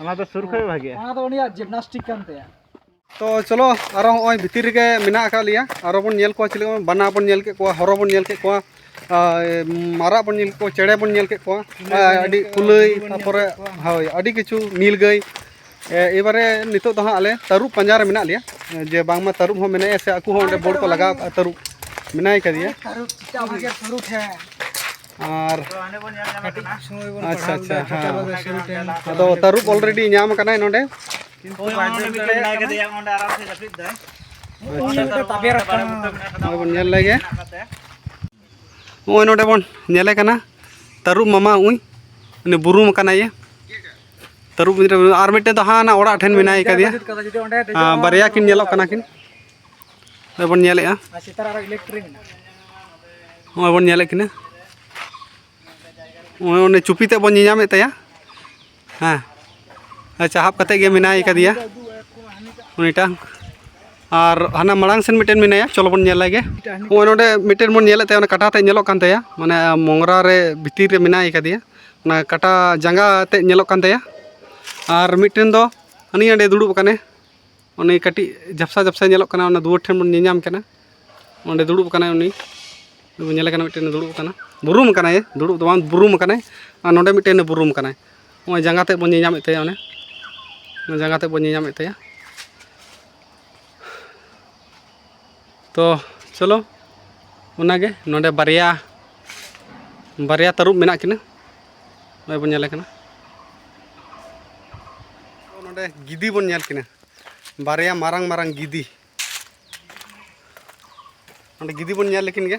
Speaker 3: ᱚᱱᱟ ᱫᱚ ᱥᱩᱨ ᱠᱷᱚᱡ ᱵᱷᱟᱜᱮᱜᱼᱟ ᱚᱱᱟ ᱫᱚ ᱩᱱᱤᱭᱟᱜ ᱡᱤᱢᱱᱟᱥᱴᱤᱠ
Speaker 4: ᱠᱟᱱ ᱛᱟᱭᱟ ᱛᱚ
Speaker 2: ᱪᱚᱞᱚ ᱟᱨᱚ ᱦᱚᱸᱜᱼᱚᱭ ᱵᱷᱤᱛᱤᱨ ᱨᱮᱜᱮ ᱢᱮᱱᱟᱜ ᱟᱠᱟᱫ ᱞᱮᱭᱟ ᱟᱨᱚ ᱵᱚᱱ ᱧᱮᱞ ᱠᱚᱣᱟ ᱪᱮᱞᱮ ᱵᱟᱱᱟ ᱵᱚᱱ ᱧᱮᱞ ᱠᱮᱫ ᱠᱚᱣᱟ ᱦᱚᱨᱚ ᱵᱚᱱ ᱧᱮᱞ ᱠᱮᱫ ᱠᱚᱣᱟ ᱢᱟᱨᱟᱜ ᱵᱚᱱ ᱧᱮᱞ ᱠᱮᱫ ᱠᱚᱣᱟ ᱪᱮᱬᱮ ᱵᱚᱱ ᱧᱮᱞ ᱠᱮᱫ ᱠᱚᱣᱟ ᱟᱹᱰᱤ ᱠᱩᱞᱟᱹᱭ ᱛᱟᱨᱯᱚᱨᱮ ᱦᱳᱭ ᱟᱹᱰᱤ ᱠᱤᱪᱷᱩ ᱱᱤᱞ ᱜᱟᱹᱭ ᱮᱵᱟᱨᱮ ᱱᱤᱛᱚᱜ ᱫᱚ ᱦᱟᱸᱜ ᱟᱞᱮ ᱛᱟᱹᱨᱩᱵ ᱯᱟᱸᱡᱟ ᱨᱮ ᱢᱮᱱᱟᱜ ᱞᱮᱭᱟ ᱡᱮ ᱵᱟᱝᱢᱟ ᱛᱟᱹᱨᱩᱵ ᱦᱚᱸ ᱢᱮᱱᱟᱭᱟ ᱥᱮ ᱟᱠᱚ ᱦᱚᱸ ᱚᱸᱰᱮ ᱵᱳᱨᱰ ᱠᱚ ᱞᱟᱜᱟᱣ ᱠᱟᱜᱼᱟ ᱛᱟᱹᱨᱩᱵ ᱢᱮᱱᱟᱭ ᱠᱟᱫᱮᱭᱟ
Speaker 4: ᱟᱨ
Speaker 3: ᱟᱪᱪᱷᱟ ᱟᱪᱪᱷᱟ
Speaker 2: ᱦᱮᱸ ᱟᱫᱚ ᱛᱟᱹᱨᱩᱵ ᱚᱞᱨᱮᱰᱤ ᱧᱟᱢ ᱠᱟᱱᱟᱭ ᱱᱚᱰᱮ
Speaker 4: ᱵᱚᱱ
Speaker 2: ᱧᱮᱞ ᱞᱮᱜᱮ ᱱᱚᱜᱼᱚᱭ ᱱᱚᱰᱮ ᱵᱚᱱ ᱧᱮᱞᱮ ᱠᱟᱱᱟ ᱛᱟᱹᱨᱩᱵ ᱢᱟᱢᱟ ᱩᱭ ᱩᱱᱤ ᱵᱩᱨᱩᱢ ᱠᱟᱱᱟᱭ ᱛᱟᱹᱨᱩᱵ ᱟᱨ ᱢᱤᱫᱴᱮᱱ ᱫᱚ ᱦᱟᱸᱜ ᱚᱲᱟᱜ ᱴᱷᱮᱱ ᱢᱮᱱᱟᱭ ᱠᱟᱫᱮᱭᱟ ᱵᱟᱨᱭᱟ ᱠᱤᱱ ᱧᱮᱞᱚᱜ ᱠᱟᱱᱟ ᱠᱤᱱ ᱵᱚᱱ
Speaker 4: ᱧᱮᱞᱮᱜᱼᱟ
Speaker 2: ᱱᱚᱜᱼᱚᱭ ᱵᱚᱱ ᱧᱮᱞᱮᱫ ᱠᱤᱱᱟ ᱱᱚᱜᱼᱚᱭ ᱚᱱᱮ ᱪᱩᱯᱤ ᱛᱮᱫ ᱵᱚᱱ ᱧᱮᱧᱟᱢᱮᱫ ᱛᱟᱭᱟ ᱦᱮᱸ ᱪᱟᱦᱟᱵ ᱠᱟᱛᱮ ᱜᱮ ᱢᱮᱱᱟᱭ ᱠᱟᱫᱮᱭᱟ ᱩᱱᱤᱴᱟᱝ ᱟᱨ ᱦᱟᱱᱟ ᱢᱟᱲᱟᱝ ᱥᱮᱱ ᱢᱤᱫᱴᱮᱱ ᱢᱮᱱᱟᱭᱟ ᱪᱚᱞᱚ ᱵᱚᱱ ᱧᱮᱞ ᱞᱮᱜᱮ ᱱᱚᱜᱼᱚᱭ ᱱᱚᱰᱮ ᱢᱤᱫᱴᱮᱱ ᱵᱚᱱ ᱧᱮᱞᱮᱫ ᱛᱟᱭᱟ ᱚᱱᱟ ᱠᱟᱴᱟ ᱛᱮ ᱧᱮᱞᱚᱜ ᱠᱟᱱ ᱛᱟᱭᱟ ᱢᱟᱱᱮ ᱢᱚᱝᱨᱟ ᱨᱮ ᱵᱷᱤᱛᱤᱨ ᱨᱮ ᱢᱮᱱᱟᱭ ᱠᱟᱫᱮᱭᱟ ᱚᱱᱟ ᱠᱟᱴᱟ ᱡᱟᱸᱜᱟ ᱛᱮ ᱧᱮᱞᱚᱜ ᱠᱟᱱ ᱛᱟᱭᱟ ᱟᱨ ᱢᱤᱫᱴᱮᱱ ᱫᱚ ᱦᱟᱹᱱᱤ ᱦᱟᱸᱰᱮ ᱫᱩᱲᱩᱵ ᱟᱠᱟᱱᱮ ᱚᱱᱮ ᱠᱟᱹᱴᱤᱡ ᱡᱷᱟᱯᱥᱟ ᱡᱷᱟᱯᱥᱟ ᱧᱮᱞᱚᱜ ᱠᱟᱱᱟ ᱚᱱᱟ ᱫᱩᱣᱟᱹᱨ ᱴᱷᱮᱱ ᱵᱚᱱ ᱧᱮᱧᱟᱢ ᱠᱟᱱᱟ ᱚᱸᱰᱮ ᱫᱩᱲᱩᱵ ᱠᱟᱱᱟᱭ ᱩᱱᱤ ᱵᱚᱱ ᱧᱮᱞᱮ ᱠᱟᱱᱟ ᱢᱤᱫᱴᱮᱱ ᱫᱩᱲᱩᱵ ᱠᱟᱱᱟ ᱵᱩᱨᱩᱢ ᱠᱟᱱᱟᱭ ᱫᱩᱲᱩᱵ ᱫᱚ ᱵᱟᱝ ᱵᱩᱨᱩᱢ ᱠᱟᱱᱟᱭ ᱟᱨ ᱱᱚᱰᱮ ᱢᱤᱫᱴᱮᱱ ᱵᱩᱨᱩᱢ ᱠᱟᱱᱟᱭ ᱱᱚᱜᱼᱚᱸᱭ ᱡᱟᱸᱜᱟ ᱛᱮᱫ ᱵᱚᱱ ᱧᱮᱧᱟᱢᱮᱫ ᱛᱟᱭᱟ ᱚᱱᱮ ᱡᱟᱸᱜᱟ ᱛᱮᱫ ᱵᱚᱱ ᱧᱮᱧᱟᱢᱮᱫ ᱛᱟᱭᱟ ᱛᱚ ᱪᱚᱞᱚ ᱚᱱᱟᱜᱮ ᱱᱚᱰᱮ ᱵᱟᱨᱭᱟ ᱵᱟᱨᱭᱟ ᱛᱟᱹᱨᱩᱵ ᱢᱮᱱᱟᱜ ᱠᱤᱱᱟ ᱱᱚᱜᱼᱚᱭ ᱵᱚᱱ ᱧᱮᱞᱮ ᱠᱟᱱᱟ ᱱᱚᱰᱮ ᱜᱤᱫᱤ ᱵᱚᱱ ᱧᱮᱞ ᱠᱤᱱᱟ ᱵᱟᱨᱭᱟ ᱢᱟᱨᱟᱝ ᱢᱟᱨᱟᱝ ᱜᱤᱫᱤ ᱱᱚᱰᱮ ᱜᱤᱫᱤ ᱵᱚᱱ ᱧᱮᱞ ᱞᱮᱠᱤᱱ ᱜᱮ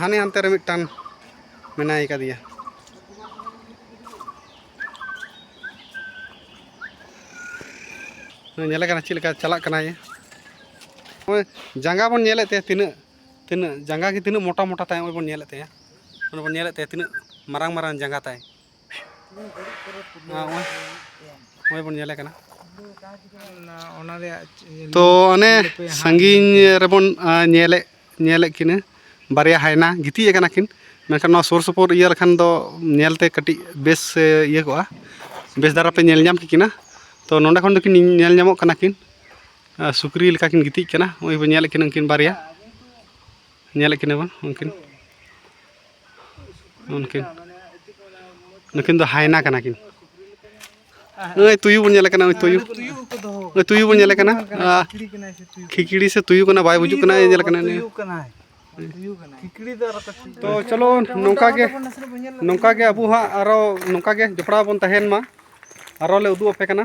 Speaker 2: ᱦᱟᱱᱮ ᱦᱟᱱᱛᱮ ᱨᱮ ᱢᱤᱫᱴᱟᱝ ᱢᱮᱱᱟᱭ ᱠᱟᱫᱮᱭᱟ ᱧᱮᱞᱮ ᱠᱟᱱᱟ ᱪᱮᱫ ᱞᱮᱠᱟ ᱪᱟᱞᱟᱜ ᱠᱟᱱᱟᱭ ᱱᱚᱜᱼᱚᱭ ᱡᱟᱸᱜᱟ ᱵᱚᱱ ᱧᱮᱞᱮᱫ ᱛᱟᱭᱟ ᱛᱤᱱᱟᱹᱜ ᱛᱤᱱᱟᱹᱜ ᱡᱟᱸᱜᱟ ᱜᱮ ᱛᱤᱱᱟᱹᱜ ᱢᱚᱴᱟ ᱢᱚᱴᱟ ᱛᱟᱭ ᱱᱚᱜᱼᱚᱭ ᱵᱚᱱ ᱧᱮᱞᱮᱫ ᱛᱟᱭᱟ ᱚᱱᱮ ᱵᱚᱱ ᱧᱮᱞᱮᱫ ᱛᱟᱭᱟ ᱛᱤᱱᱟᱹᱜ ᱢᱟᱨᱟᱝ ᱢᱟᱨᱟᱝ ᱡᱟᱸᱜᱟ ᱛᱟᱭ ᱱᱚᱜᱼᱚᱭ ᱵᱚᱱ ᱧᱮᱞᱮ ᱠᱟᱱᱟ
Speaker 1: ᱚᱱᱟ ᱨᱮᱭᱟᱜ ᱛᱚ ᱚᱱᱮ
Speaker 2: ᱥᱟᱺᱜᱤᱧ ᱨᱮᱵᱚᱱ ᱧᱮᱞᱮᱫ ᱧᱮᱞᱮᱫ ᱠᱤᱱᱟᱹ ᱵᱟᱨᱭᱟ ᱦᱟᱭᱱᱟ ᱜᱤᱛᱤᱡ ᱟᱠᱟᱱᱟ ᱠᱤᱱ ᱢᱮᱱᱠᱷᱟᱱ ᱱᱚᱣᱟ ᱥᱩᱨ ᱥᱩᱯᱩᱨ ᱤᱭᱟᱹ ᱞᱮᱠᱷᱟᱱ ᱫᱚ ᱧᱮᱞᱛᱮ ᱠᱟᱹᱴᱤᱡ ᱵᱮᱥ ᱤᱭᱟᱹ ᱠᱚᱜᱼᱟ ᱵᱮᱥ ᱫᱷᱟᱨᱟ ᱯᱮ ᱧᱮᱞ ᱧᱟᱢ ᱠᱮᱠᱤᱱᱟ ᱛᱚ ᱱᱚᱰᱮ ᱠᱷᱚᱱ ᱫᱚᱠᱤᱱ ᱧᱮᱞ ᱧᱟᱢᱚᱜ ᱠᱟᱱᱟ ᱠᱤᱱ ᱥᱩᱠᱨᱤ ᱞᱮᱠᱟ ᱠᱤᱱ ᱜᱤᱛᱤᱡ ᱠᱟᱱᱟ ᱱᱚᱜᱼᱚᱭ ᱵᱚᱱ ᱧᱮᱞᱮᱫ ᱠᱤᱱᱟ ᱩᱱᱠᱤᱱ ᱵᱟᱨᱭᱟ ᱧᱮᱞᱮᱫ ᱠᱤᱱᱟᱹ ᱵᱚᱱ ᱩᱱᱠᱤᱱ ᱩᱱᱠᱤᱱ ᱱᱩᱠᱤᱱ ᱫᱚ ᱦᱟᱭᱱᱟ ᱠᱟᱱᱟ ᱠᱤᱱ ᱱᱩᱭ ᱛᱩᱭᱩ ᱵᱚᱱ ᱧᱮᱞᱮ ᱠᱟᱱᱟ ᱱᱩᱭ ᱛᱩᱭᱩ ᱱᱩᱭ ᱛᱩᱭᱩ ᱵᱚᱱ ᱧᱮᱞᱮ ᱠᱟᱱᱟ ᱠᱷᱤᱠᱲᱤ ᱥᱮ ᱛᱩᱭᱩ ᱠᱟᱱᱟ ᱵᱟᱭ ᱵᱩᱡᱩᱜ ᱠᱟᱱᱟ ᱧᱮᱞᱮ ᱠᱟᱱᱟ ᱛᱚ ᱪᱚᱞᱚ ᱱᱚᱝᱠᱟ ᱜᱮ ᱱᱚᱝᱠᱟ ᱜᱮ ᱟᱵᱚ ᱦᱟᱸᱜ ᱟᱨᱚ ᱱᱚᱝᱠᱟ ᱜᱮ ᱡᱚᱯᱲᱟᱣ ᱵᱚᱱ ᱛᱟᱦᱮᱱ ᱢᱟ ᱟᱨᱚ ᱞᱮ ᱩᱫᱩᱜ ᱟᱯᱮ ᱠᱟᱱᱟ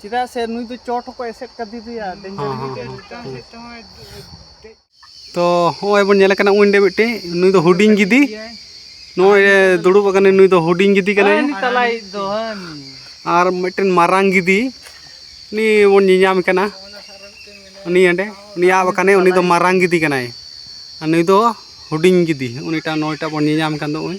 Speaker 2: ᱪᱮᱫᱟᱜ ᱥᱮ ᱱᱩᱭ
Speaker 1: ᱫᱚ ᱪᱚᱴ ᱦᱚᱸᱠᱚ ᱮᱥᱮᱫ ᱠᱟᱫᱮᱭᱟ
Speaker 2: ᱰᱮᱧᱡᱟᱨ ᱦᱚᱸ ᱦᱚᱸ ᱦᱚᱸ ᱛᱚ ᱦᱚᱸᱜᱼᱚᱭ ᱵᱚᱱ ᱧᱮᱞ ᱠᱟᱱᱟ ᱩᱱᱤ ᱢᱤᱫᱴᱮᱡ ᱱᱩᱭ ᱫᱚ ᱦᱩᱰᱤᱧ ᱜᱤᱫᱤ ᱱᱚᱜᱼᱚᱭ ᱫᱩᱲᱩᱵ ᱟᱠᱟᱱᱟᱭ ᱱᱩᱭ ᱫᱚ ᱦᱩᱰᱤᱧ ᱜᱤᱫᱤ ᱠᱟᱱᱟᱭ ᱛᱟᱞᱟᱭ
Speaker 1: ᱫᱚ ᱟᱨ
Speaker 2: ᱢᱤᱫᱴᱮᱱ ᱢᱟᱨᱟᱝ ᱜᱤᱫᱤ ᱩᱱᱤ ᱵᱚᱱ ᱧᱮᱧᱟᱢ ᱠᱟᱱᱟ ᱩᱱᱤ ᱚᱸᱰᱮ ᱩᱱᱤ ᱟᱵ ᱟᱠᱟᱱᱟᱭ ᱩᱱᱤ ᱫᱚ ᱢᱟᱨᱟᱝ ᱜᱤᱫᱤ ᱠᱟᱱᱟᱭ ᱟᱨ ᱱᱩᱭ ᱫᱚ ᱦᱩᱰᱤᱧ ᱜᱤᱫᱤ ᱩᱱᱤᱴᱟᱜ ᱱᱩᱭᱴᱟᱜ ᱵᱚᱱ ᱧᱮᱧᱟᱢ ᱠᱟᱱ ᱫᱚ ᱩᱱᱤ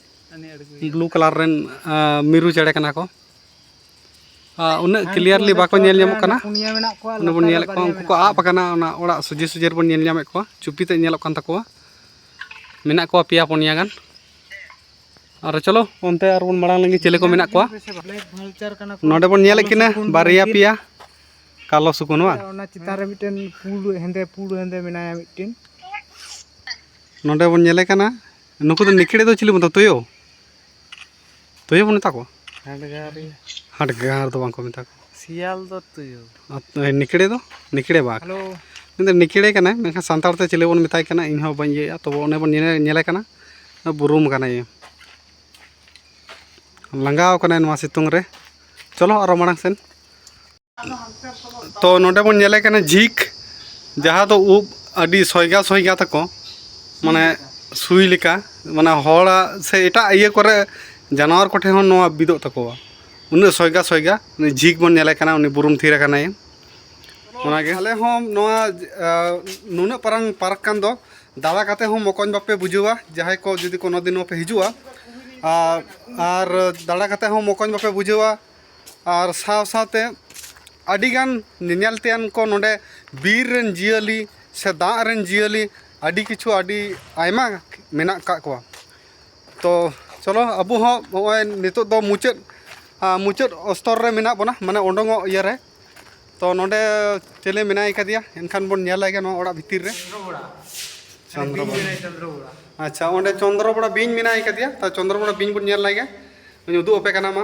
Speaker 1: ᱵᱞᱩ ᱠᱟᱞᱟᱨ ᱨᱮᱱ
Speaker 2: ᱢᱤᱨᱩ ᱪᱮᱬᱮ ᱠᱟᱱᱟ ᱠᱚ ᱩᱱᱟᱹᱜ ᱠᱞᱤᱭᱟᱨᱞᱤ ᱵᱟᱠᱚ ᱧᱮᱞ ᱧᱟᱢᱚᱜ ᱠᱟᱱᱟ ᱚᱱᱟ ᱵᱚᱱ
Speaker 1: ᱧᱮᱞᱮᱫ ᱠᱚᱣᱟ ᱩᱱᱠᱩ ᱠᱚ
Speaker 2: ᱟᱵ ᱟᱠᱟᱱᱟ ᱚᱱᱟ ᱚᱲᱟᱜ ᱥᱚᱡᱷᱮ ᱥᱚᱡᱷᱮ ᱨᱮᱵᱚᱱ ᱧᱮᱞ ᱧᱟᱢᱮᱫ ᱠᱚᱣᱟ ᱪᱩᱯᱤ ᱛᱮᱫ ᱧᱮᱞᱚᱜ ᱠᱟᱱ ᱛᱟᱠᱚᱣᱟ ᱢᱮᱱᱟᱜ ᱠᱚᱣᱟ ᱯᱮᱭᱟ ᱯᱩᱱᱭᱟ ᱜᱟᱱ ᱟᱨ ᱪᱚᱞᱚ ᱚᱱᱛᱮ ᱟᱨ ᱵᱚᱱ ᱢᱟᱲᱟᱝ ᱞᱮᱱᱜᱮ ᱪᱮᱞᱮ ᱠᱚ ᱢᱮᱱᱟᱜ ᱠᱚᱣᱟ
Speaker 1: ᱱᱚᱰᱮ ᱵᱚᱱ ᱧᱮᱞᱮᱫ ᱠᱤᱱᱟ
Speaker 2: ᱵᱟᱨᱭᱟ ᱯᱮᱭᱟ ᱠᱟᱞᱳ ᱥᱩᱠᱩᱱ ᱵᱟᱝ ᱚᱱᱟ ᱪᱮᱛᱟᱱ ᱨᱮ ᱢᱤᱫᱴᱮᱱ
Speaker 1: ᱯᱩᱲ ᱦᱮᱸᱫᱮ ᱯᱩᱲ ᱦᱮᱸᱫᱮ ᱢᱮᱱᱟᱭᱟ ᱢᱤᱫᱴᱮᱱ
Speaker 2: ᱱᱚᱰᱮ ᱵᱚᱱ ᱧᱮᱞᱮ ᱠᱟᱱᱟ ᱱᱩᱠᱩ ᱫᱚ ᱱᱤᱠᱲᱮ ᱫᱚ ᱪᱤᱞᱤ ᱵᱚᱱ ᱢᱮᱛᱟ ᱛᱩᱭᱩ ᱛᱩᱭᱩ ᱵᱚᱱ ᱢᱮᱛᱟ ᱠᱚᱣᱟ ᱦᱟᱰᱜᱟᱨᱤᱭᱟᱹ ᱦᱟᱰᱜᱟᱨ ᱫᱚ ᱵᱟᱝᱠᱚ ᱢᱮᱛᱟ ᱠᱚᱣᱟ ᱥᱤᱭᱟᱞ ᱫᱚ ᱛᱩᱭᱩ
Speaker 1: ᱟᱨ ᱱᱤᱠᱲᱮ ᱫᱚ
Speaker 2: ᱱᱤᱠᱲᱮ ᱵᱟᱜᱽ ᱦᱮᱞᱳ ᱩᱱᱤ ᱫᱚ
Speaker 1: ᱱᱤᱠᱲᱮ ᱠᱟᱱᱟᱭ
Speaker 2: ᱢᱮᱱᱠᱷᱟᱱ ᱥᱟᱱᱛᱟᱲ ᱛᱮ ᱪᱤᱞᱤ ᱵᱚᱱ ᱢᱮᱛᱟᱭ ᱠᱟᱱᱟ ᱤᱧ ᱦᱚᱸ ᱵᱟᱹᱧ ᱤᱭᱟᱹᱭᱟ ᱛᱚᱵᱮ ᱚᱱᱮ ᱵᱚᱱ ᱧᱮᱞᱮ ᱧᱮᱞᱮ ᱠᱟᱱᱟ ᱵᱩᱨᱩᱢ ᱠᱟᱱᱟᱭ ᱞᱟᱸᱜᱟᱣ ᱠᱟᱱᱟᱭ ᱱᱚᱣᱟ ᱥᱤᱛᱩᱝ ᱨᱮ ᱪᱚᱞᱚ ᱟᱨᱚ ᱢᱟᱲᱟᱝ ᱥᱮᱱ ᱛᱚ ᱱᱚᱰᱮ ᱵᱚᱱ ᱧᱮᱞᱮ ᱠᱟᱱᱟ ᱡᱷᱤᱠ ᱡᱟᱦᱟᱸ ᱫᱚ ᱩᱵ ᱟᱹᱰᱤ ᱥᱚᱭᱜᱟ ᱥᱚᱭᱜᱟ ᱛᱟᱠᱚ ᱢᱟᱱᱮ ᱥᱩᱭ ᱞᱮᱠᱟ ᱢᱟᱱᱮ ᱦᱚᱲᱟᱜ ᱥᱮ ᱮᱴᱟᱜ ᱤᱭᱟᱹ ᱠᱚᱨᱮ ᱡᱟᱱᱣᱟᱨ ᱠᱚᱴᱷᱮᱱ ᱦᱚᱸ ᱱᱚᱣᱟ ᱵᱤᱫᱚᱜ ᱛᱟᱠᱚᱣᱟ ᱩᱱᱟᱹᱜ ᱥᱚᱭᱜᱟ ᱥᱚᱭᱜᱟ ᱩᱱᱤ ᱡᱷᱤᱠ ᱵᱚᱱ ᱧᱮᱞᱮ ᱠᱟᱱᱟ ᱩᱱᱤ ᱵᱩᱨᱩᱢ ᱛᱷᱤᱨ ᱟᱠᱟᱱᱟᱭ ᱚᱱᱟᱜᱮ ᱟᱞᱮ ᱦᱚᱸ ᱱᱚᱣᱟ ᱱᱩᱱᱟᱹᱜ ᱯᱟᱨᱟᱝ ᱯᱟᱨᱠ ᱠᱟᱱ ᱫᱚ ᱫᱟᱬᱟ ᱠᱟᱛᱮ ᱦᱚᱸ ᱢᱚᱠᱚᱧ ᱵᱟᱯᱮ ᱵᱩᱡᱷᱟᱹᱣᱟ ᱡᱟᱦᱟᱸᱭ ᱠᱚ ᱡᱩᱫᱤ ᱠᱳᱱᱳ ᱫᱤᱱ ᱦᱚᱸᱯᱮ ᱦᱤᱡᱩᱜᱼᱟ ᱟᱨ ᱫᱟᱬᱟ ᱠᱟᱛᱮ ᱦᱚᱸ ᱢᱚᱠᱚᱧ ᱵᱟᱯᱮ ᱵᱩᱡᱷᱟᱹᱣᱟ ᱟᱨ ᱥᱟᱶ ᱥᱟᱶᱛᱮ ᱟᱹᱰᱤ ᱜᱟᱱ ᱧᱮᱧᱮᱞ ᱛᱮᱭᱟᱜ ᱠᱚ ᱱᱚᱰᱮ ᱵᱤᱨ ᱨᱮᱱ ᱡᱤᱭᱟᱹᱞᱤ ᱥᱮ ᱫᱟᱜ ᱨᱮᱱ ᱡᱤᱭᱟᱹᱞᱤ ᱟᱹᱰᱤ ᱠᱤᱪᱷᱩ ᱟᱹᱰᱤ ᱟᱭᱢᱟ ᱢᱮᱱᱟᱜ ᱠᱟᱜ ᱠᱚᱣᱟ ᱛᱚ ᱪᱚᱞᱚ ᱟᱵᱚ ᱦᱚᱸ ᱱᱚᱜᱼᱚᱸᱭ ᱱᱤᱛᱚᱜ ᱫᱚ ᱢᱩᱪᱟᱹᱫ ᱢᱩᱪᱟᱹᱫ ᱚᱥᱛᱚᱨ ᱨᱮ ᱢᱮᱱᱟᱜ ᱵᱚᱱᱟ ᱢᱟᱱᱮ ᱩᱰᱩᱠᱚᱜ ᱤᱭᱟᱹ ᱨᱮ ᱛᱚ ᱱᱚᱰᱮ ᱪᱤᱞᱤ ᱢᱮᱱᱟᱭ ᱠᱟᱫᱮᱭᱟ ᱮᱱᱠᱷᱟᱱ ᱵᱚᱱ ᱧᱮᱞ ᱞᱮᱜᱮ ᱱᱚᱣᱟ ᱚᱲᱟᱜ ᱵᱷᱤᱛᱤᱨ ᱨᱮ ᱪᱚᱱᱫᱨᱚ ᱵᱚᱲᱟ ᱟᱪᱪᱷᱟ ᱚᱸᱰᱮ ᱪᱚᱱᱫᱨᱚ ᱵᱚᱲᱟ ᱵᱤᱧ ᱢᱮᱱᱟᱭ ᱠᱟᱫᱮᱭᱟ ᱛᱚ ᱪᱚᱱᱫᱨᱚ ᱵᱚᱲᱟ ᱵᱤᱧ ᱵᱚᱱ ᱧᱮᱞ ᱞᱮᱜᱮ ᱩᱫᱩᱜ ᱟᱯᱮ ᱠᱟᱱᱟ ᱢᱟ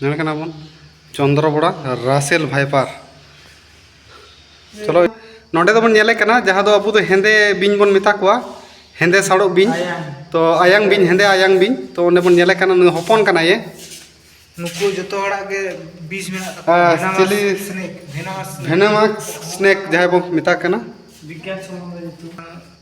Speaker 2: ᱧᱮᱞ ᱠᱟᱱᱟ ᱵᱚᱱ ᱪᱚᱱᱫᱨᱚ ᱵᱚᱲᱟ ᱨᱟᱥᱮᱞ ᱵᱷᱟᱭᱯᱟᱨ ᱪᱚᱞᱚ ᱱᱚᱰᱮ ᱫᱚᱵᱚᱱ ᱧᱮᱞᱮ ᱠᱟᱱᱟ ᱡᱟᱦᱟᱸ ᱫᱚ ᱟᱵᱚ ᱫᱚ ᱦᱮᱸᱫᱮ ᱵᱤᱧ ᱵᱚᱱ ᱢᱮᱛᱟ ᱠᱚᱣᱟ ᱦᱮᱸᱫᱮ ᱥᱟᱲᱚᱜ ᱵᱤᱧ ᱛᱚ ᱟᱭᱟᱝ ᱵᱤᱧ ᱦᱮᱸᱫᱮ ᱟᱭᱟᱝ ᱵᱤᱧ ᱛᱚ ᱚᱸᱰᱮ ᱵᱚᱱ ᱧᱮᱞᱮ ᱠᱟᱱᱟ ᱱᱩᱭ ᱦᱚᱯᱚᱱ ᱠᱟᱱᱟᱭᱮ ᱱᱩᱠᱩ
Speaker 1: ᱡᱚᱛᱚ ᱦᱚᱲᱟᱜ ᱜᱮ ᱵᱤᱥ ᱢᱮᱱᱟᱜ ᱛᱟᱠᱚᱣᱟ ᱪᱤᱞᱤ
Speaker 2: ᱥᱱᱮᱠ ᱵᱷᱮᱱᱟᱢᱟᱥ ᱥᱱᱮᱠ ᱡᱟᱦᱟᱸᱭ ᱵᱚᱱ ᱢᱮᱛᱟ ᱠᱟᱱᱟ ᱵᱤᱜᱽᱜᱟᱱ ᱥᱚᱢᱚᱱᱫᱷᱮ
Speaker 1: ᱧᱩᱛᱩᱢ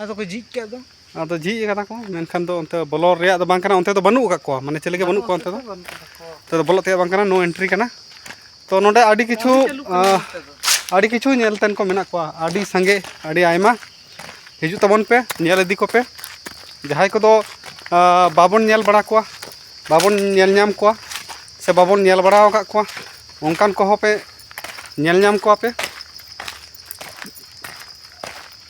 Speaker 1: ᱟᱫᱚ
Speaker 2: ᱠᱚ ᱡᱷᱤᱡ ᱠᱟᱜ ᱫᱚ ᱟᱫᱚ ᱡᱷᱤᱡ ᱠᱟᱫᱟ ᱠᱚ ᱢᱮᱱᱠᱷᱟᱱ ᱫᱚ ᱚᱱᱛᱮ ᱵᱚᱞᱚ ᱨᱮᱭᱟᱜ ᱫᱚ ᱵᱟᱝ ᱠᱟᱱᱟ ᱚᱱᱛᱮ ᱫᱚ ᱵᱟᱹᱱᱩᱜ ᱟᱠᱟᱫ ᱠᱚᱣᱟ ᱢᱟᱱᱮ ᱪᱮᱞᱮ ᱜᱮ ᱵᱟᱹᱱᱩᱜ ᱠᱚᱣᱟ ᱚᱱᱛᱮ ᱫᱚ ᱚᱱᱛᱮ ᱫᱚ ᱵᱚᱞᱚᱜ ᱛᱮᱭᱟᱜ ᱵᱟᱝ ᱠᱟᱱᱟ ᱱᱳ ᱮᱱᱴᱨᱤ ᱠᱟᱱᱟ ᱛᱚ ᱱᱚᱰᱮ ᱟᱹᱰᱤ ᱠᱤᱪᱷᱩ ᱟᱹᱰᱤ ᱠᱤᱪᱷᱩ ᱧᱮᱞ ᱛᱮᱱ ᱠᱚ ᱢᱮᱱᱟᱜ ᱠᱚᱣᱟ ᱟᱹᱰᱤ ᱥᱟᱸᱜᱮ ᱟᱹᱰᱤ ᱟᱭᱢᱟ ᱦᱤᱡᱩᱜ ᱛᱟᱵᱚᱱ ᱯᱮ ᱧᱮᱞ ᱤᱫᱤ ᱠᱚᱯᱮ ᱡᱟᱦᱟᱸᱭ ᱠᱚᱫᱚ ᱵᱟᱵᱚᱱ ᱧᱮᱞ ᱵᱟᱲᱟ ᱠᱚᱣᱟ ᱵᱟᱵᱚᱱ ᱧᱮᱞ ᱧᱟᱢ ᱠᱚᱣᱟ ᱥᱮ ᱵᱟᱵᱚᱱ ᱧᱮᱞ ᱵᱟᱲᱟ ᱟᱠᱟᱫ ᱠᱚᱣᱟ ᱚᱱᱠᱟᱱ ᱠᱚᱦᱚᱸ ᱯᱮ ᱧᱮᱞ ᱧᱟᱢ ᱠᱚᱣᱟ ᱯᱮ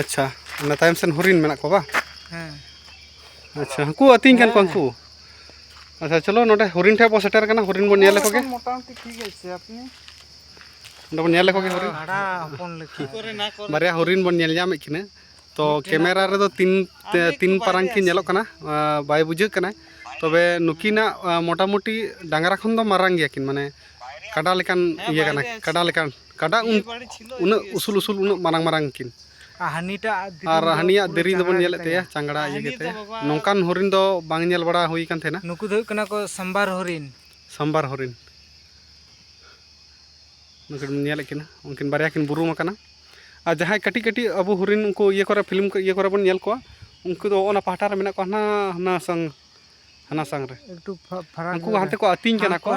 Speaker 2: ᱟᱪᱪᱷᱟ ᱚᱱᱟ ᱛᱟᱭᱚᱢ ᱥᱮᱱ ᱦᱚᱨᱤᱱ ᱢᱮᱱᱟᱜ ᱠᱚᱣᱟ ᱵᱟᱝ
Speaker 1: ᱦᱮᱸ
Speaker 2: ᱟᱪᱪᱷᱟ ᱦᱟᱹᱠᱩ ᱟᱹᱛᱤᱧ ᱠᱟᱱ ᱠᱚᱣᱟ ᱩᱱᱠᱩ ᱟᱪᱪᱷᱟ ᱪᱚᱞᱚ ᱱᱚᱰᱮ ᱦᱚᱨᱤᱱ ᱴᱷᱮᱱ ᱵᱚ ᱥᱮᱴᱮᱨ ᱠᱟᱱᱟ ᱦᱚᱨᱤᱱ ᱵᱚᱱ ᱧᱮᱞ ᱞᱮᱠᱚ ᱜᱮ ᱢᱚᱴᱟᱢᱩᱴᱤ ᱴᱷᱤᱠ ᱟᱪᱷᱮ
Speaker 1: ᱟᱯᱱᱤ
Speaker 2: ᱱᱚᱰᱮ ᱵᱚᱱ ᱧᱮᱞ ᱞᱮᱠᱚ ᱜᱮ ᱦᱚᱨᱤᱱ
Speaker 1: ᱵᱷᱟᱲᱟ ᱦᱚᱯᱚᱱ ᱞᱮᱠᱟ ᱵᱟᱨᱭᱟ
Speaker 2: ᱦᱚᱨᱤᱱ ᱵᱚᱱ ᱧᱮᱞ ᱧᱟᱢᱮᱫ ᱠᱤᱱᱟ ᱛᱚ ᱠᱮᱢᱮᱨᱟ ᱨᱮᱫᱚ ᱛᱤᱱ ᱛᱤᱱ ᱯᱟᱨᱟᱝ ᱠᱤᱱ ᱧᱮᱞᱚᱜ ᱠᱟᱱᱟ ᱵᱟᱭ ᱵᱩᱡᱷᱟᱹᱜ ᱠᱟᱱᱟ ᱛᱚᱵᱮ ᱱᱩᱠᱤᱱᱟᱜ ᱢᱚᱴᱟᱢᱩᱴᱤ ᱰᱟᱝᱨᱟ ᱠᱷᱚᱱ ᱫᱚ ᱢᱟᱨᱟᱝ ᱜᱮᱭᱟ ᱠᱤᱱ ᱢᱟᱱᱮ ᱠᱟᱰᱟ ᱞᱮᱠᱟᱱ ᱤᱭᱟᱹ ᱠᱟᱱᱟ ᱠᱟᱰᱟ ᱞᱮᱠᱟᱱ ᱠᱟᱰᱟ ᱩᱱᱟᱹᱜ ᱩᱥᱩᱞ ᱩᱥᱩᱞ ᱩᱱᱟᱹᱜ ᱢᱟᱨᱟᱝ ᱢᱟᱨᱟᱝ ᱠᱤᱱ
Speaker 1: ᱟᱨ ᱦᱟᱹᱱᱤᱭᱟᱜ
Speaker 2: ᱫᱮᱨᱤ ᱫᱚᱵᱚᱱ ᱧᱮᱞᱮᱫ ᱛᱟᱭᱟ ᱪᱟᱝᱲᱟ ᱤᱭᱟᱹ ᱜᱮᱛᱮ ᱱᱚᱝᱠᱟᱱ ᱦᱚᱨᱤᱱ ᱫᱚ ᱵᱟᱝ ᱧᱮᱞ ᱵᱟᱲᱟ ᱦᱩᱭ ᱠᱟᱱ ᱛᱟᱦᱮᱱᱟ ᱱᱩᱠᱩ ᱫᱚ ᱦᱩᱭᱩᱜ ᱠᱟᱱᱟ ᱠᱚ
Speaker 1: ᱥᱟᱢᱵᱟᱨ ᱦᱚᱨᱤᱱ ᱥᱟᱢᱵᱟᱨ ᱦᱚᱨᱤᱱ
Speaker 2: ᱱᱩᱠᱤᱱ ᱧᱮᱞᱮᱫ ᱠᱤᱱᱟ ᱩᱱᱠᱤᱱ ᱵᱟᱨᱭᱟ ᱠᱤᱱ ᱵᱩᱨᱩᱢ ᱟᱠᱟᱱᱟ ᱟᱨ ᱡᱟᱦᱟᱸᱭ ᱠᱟᱹᱴᱤᱡ ᱠᱟᱹᱴᱤᱡ ᱟᱵᱚ ᱦᱚᱨᱤᱱ ᱩᱱᱠᱩ ᱤᱭᱟᱹ ᱠᱚᱨᱮ ᱯᱷᱤᱞᱢ ᱤᱭᱟᱹ ᱠᱚᱨᱮ ᱵᱚᱱ ᱧᱮᱞ ᱠᱚᱣᱟ ᱩᱱᱠᱩ ᱫᱚ ᱚᱱᱟ ᱯᱟᱦᱴᱟ ᱨᱮ ᱢᱮᱱᱟᱜ ᱠᱚᱣᱟ ᱦᱟᱱᱟ ᱦᱟᱱᱟ ᱥᱟᱝ ᱦᱟᱱᱟ ᱥᱟᱝ ᱨᱮ ᱩᱱᱠᱩ
Speaker 1: ᱦᱟᱱᱛᱮ ᱠᱚ ᱟᱹᱛᱤᱧ
Speaker 2: ᱠᱟᱱᱟ ᱠᱚ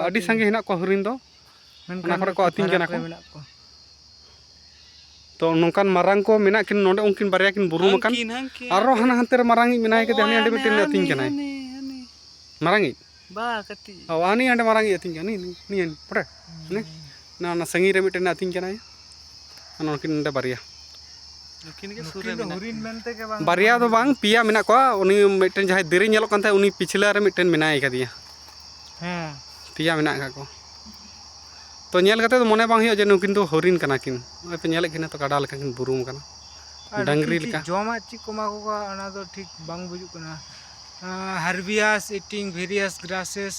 Speaker 2: ᱟᱹᱰᱤ ᱥᱟᱸᱜᱮ ᱦᱮᱱᱟᱜ ᱠᱚᱣᱟ ᱦᱚᱨᱤᱱ ᱫᱚ ᱚᱱᱟ ᱠᱚᱨᱮ ᱠᱚ
Speaker 1: ᱟᱹᱛᱤᱧ ᱠᱟᱱᱟ ᱠᱚ
Speaker 2: ᱢᱮᱱᱟᱜ ᱠᱚᱣᱟ ᱛᱚ ᱱᱚᱝᱠᱟᱱ ᱢᱟᱨᱟᱝ ᱠᱚ ᱢᱮᱱᱟᱜ ᱠᱤᱱ ᱱᱚᱰᱮ ᱩᱱᱠᱤᱱ ᱵᱟᱨᱭᱟ ᱠᱤᱱ ᱵᱩᱨᱩᱢ ᱟᱠᱟᱱ ᱟᱨᱚ ᱦᱟᱱᱟ ᱦᱟᱱᱛᱮ ᱨᱮ ᱢᱟᱨᱟᱝ ᱤᱡ ᱢᱮᱱᱟᱭ ᱠᱟᱫᱮ ᱦᱟᱱᱤ ᱟᱹᱰᱤ ᱢᱤᱫᱴᱮᱱ ᱟᱹᱛᱤᱧ ᱠᱟᱱᱟᱭ ᱢᱟᱨᱟᱝ ᱤᱡ ᱵᱟ
Speaker 1: ᱠᱟᱹᱴᱤᱡ ᱚ ᱦᱟᱱᱤ ᱟᱹᱰᱤ ᱢᱟᱨᱟᱝ ᱤᱡ
Speaker 2: ᱟᱹᱛᱤᱧ ᱠᱟᱱᱟ ᱱᱤᱭᱟᱹ ᱯᱚᱴᱮ ᱱᱤᱭᱟᱹ ᱱᱟ ᱥᱟᱺᱜᱤᱧ ᱨᱮ ᱢᱤᱫᱴᱮᱱ ᱟᱹᱛᱤᱧ ᱠᱟᱱᱟᱭ ᱱᱩᱠᱤᱱ
Speaker 1: ᱱᱚᱰᱮ ᱵᱟᱨᱭᱟ ᱵᱟᱨᱭᱟ ᱫᱚ ᱵᱟᱝ ᱯᱮᱭᱟ ᱢᱮᱱᱟᱜ
Speaker 2: ᱠᱚᱣᱟ ᱩᱱᱤ ᱢᱤᱫᱴᱮᱱ ᱡᱟᱦᱟᱸᱭ ᱫᱮᱨᱮ ᱧᱮᱞᱚᱜ ᱠᱟᱱ ᱛᱟᱦᱮᱸᱫ ᱩᱱᱤ ᱯᱤᱪᱷᱞᱟᱹ ᱨᱮ ᱢᱤᱫᱴᱮᱱ ᱢᱮᱱᱟᱭ ᱠᱟᱫᱮᱭᱟ ᱦᱮᱸ
Speaker 1: ᱯᱮᱭᱟ ᱢᱮᱱᱟᱜ
Speaker 2: ᱠᱟᱜ ᱠᱚ ᱛᱚ ᱧᱮᱞ ᱠᱟᱛᱮ ᱫᱚ ᱢᱚᱱᱮ ᱵᱟᱝ ᱦᱩᱭᱩᱜᱼᱟ ᱡᱮ ᱱᱩᱠᱤᱱ ᱫᱚ ᱦᱚᱨᱤᱱ ᱠᱟᱱᱟ ᱠᱤᱱ ᱱᱚᱜᱼᱚᱭ ᱯᱮ ᱧᱮᱞᱮᱫ ᱠᱤᱱᱟ ᱛᱚ ᱠᱟᱰᱟ ᱞᱮᱠᱟ ᱠᱤᱱ ᱵᱩᱨᱩᱢ ᱠᱟᱱᱟ ᱰᱟᱝᱨᱤ ᱞᱮᱠᱟ ᱡᱚᱢᱟᱜ ᱪᱮᱫ ᱠᱚ ᱮᱢᱟ ᱠᱚ
Speaker 1: ᱠᱚᱣᱟ ᱚᱱᱟ ᱫᱚ ᱴᱷᱤᱠ ᱵᱟᱝ ᱵᱩᱡᱩᱜ ᱠᱟᱱᱟ ᱦᱟᱨᱵᱤᱭᱟᱥ ᱤᱴᱤᱝ ᱵᱷᱮᱨᱤᱭᱟᱥ ᱜᱨᱟᱥᱮᱥ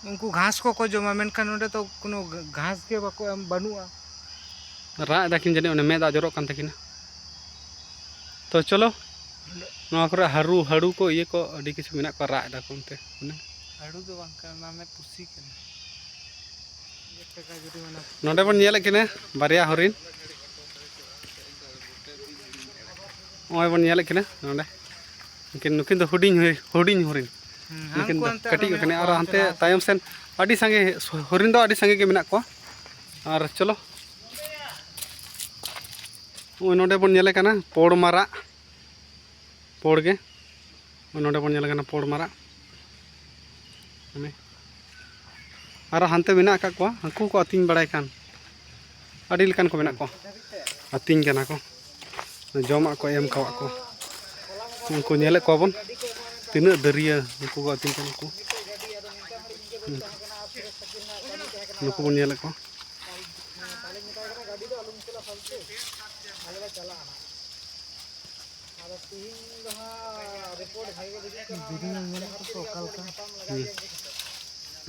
Speaker 1: ᱩᱱᱠᱩ ᱜᱷᱟᱥ ᱠᱚᱠᱚ ᱡᱚᱢᱟ ᱢᱮᱱᱠᱷᱟᱱ ᱱᱚᱰᱮ ᱫᱚ ᱠᱳᱱᱳ ᱜᱷᱟᱥ ᱜᱮ ᱵᱟᱠᱚ ᱮᱢ ᱵᱟᱹᱱᱩᱜᱼᱟ
Speaker 2: ᱨᱟᱜ ᱮᱫᱟᱠᱤᱱ ᱡᱟᱹᱱᱤᱡ ᱚᱱᱮ ᱢᱮᱫ ᱫᱟᱜ ᱡᱚᱨᱚᱜ ᱠᱟᱱ ᱛᱟᱹᱠᱤᱱᱟ ᱛᱚ ᱪᱚᱞᱚ ᱱᱚᱣᱟ ᱠᱚᱨᱮ ᱦᱟᱹᱨᱩ ᱦᱟᱹᱲᱩ ᱠᱚ ᱤᱭᱟᱹ ᱠᱚ ᱟᱹᱰᱤ ᱠᱤᱪᱷᱩ ᱢᱮᱱᱟᱜ ᱠᱚᱣᱟ ᱨᱟᱜ ᱮᱫᱟᱠᱚ ᱚᱱᱛᱮ ᱚᱱᱮ ᱦᱟᱹᱲᱩ ᱫᱚ ᱵᱟᱝ
Speaker 1: ᱠᱟᱱᱟ ᱚᱱᱟ ᱢᱮᱫ ᱯᱩᱥᱤ ᱠᱟᱱᱟ
Speaker 2: ᱱᱚᱰᱮ ᱵᱚᱱ ᱧᱮᱞᱮᱫ ᱠᱤᱱᱟ ᱵᱟᱨᱭᱟ ᱦᱚᱨᱤᱱ ᱱᱚᱜᱼᱚᱭ ᱵᱚᱱ ᱧᱮᱞᱮᱫ ᱠᱤᱱᱟ ᱱᱚᱰᱮ ᱩᱱᱠᱤᱱ ᱱᱩᱠᱤᱱ ᱫᱚ ᱦᱩᱰᱤᱧ ᱦᱩᱰᱤᱧ ᱦᱚᱨᱤᱱ ᱱᱩᱠᱤᱱ ᱫᱚ ᱠᱟᱹᱴᱤᱡ ᱠᱟᱱᱟ ᱟᱨ ᱦᱟᱱᱛᱮ ᱛᱟᱭᱚᱢ ᱥᱮᱱ ᱟᱹᱰᱤ ᱥᱟᱸᱜᱮ ᱦᱚᱨᱤᱱ ᱫᱚ ᱟᱹᱰᱤ ᱥᱟᱸᱜᱮ ᱜᱮ ᱢᱮᱱᱟᱜ ᱠᱚᱣᱟ ᱟᱨ ᱪᱚᱞᱚ ᱱᱚᱜᱼᱚᱭ ᱱᱚᱰᱮ ᱵᱚᱱ ᱧᱮᱞᱮ ᱠᱟᱱᱟ ᱯᱚᱲ ᱢᱟᱨᱟᱜ ᱯᱚᱲ ᱜᱮ ᱱᱚᱰᱮ ᱵᱚᱱ ᱧᱮᱞᱮ ᱠᱟᱱᱟ ᱯᱚᱲ ᱢᱟᱨᱟᱜ ᱟᱨᱚ ᱦᱟᱱᱛᱮ ᱢᱮᱱᱟᱜ ᱟᱠᱟᱫ ᱠᱚᱣᱟ ᱦᱟᱹᱠᱩ ᱠᱚ ᱟᱹᱛᱤᱧ ᱵᱟᱲᱟᱭ ᱠᱟᱱ ᱟᱹᱰᱤ ᱞᱮᱠᱟᱱ ᱠᱚ ᱢᱮᱱᱟᱜ ᱠᱚᱣᱟ ᱟᱹᱛᱤᱧ ᱠᱟᱱᱟ ᱠᱚ ᱡᱚᱢᱟᱜ ᱠᱚ ᱮᱢ ᱠᱟᱜ ᱠᱚ ᱩᱱᱠᱩ ᱧᱮᱞᱮᱫ ᱠᱚᱣᱟ ᱵᱚᱱ ᱛᱤᱱᱟᱹᱜ ᱫᱟᱹᱨᱭᱟᱹ ᱩᱱᱠᱩ ᱠᱚ ᱟᱹᱛᱤᱧ ᱠᱟᱱᱟ ᱠᱚ ᱱᱩᱠᱩ ᱵᱚᱱ ᱧᱮᱞᱮᱫ ᱠᱚᱣᱟ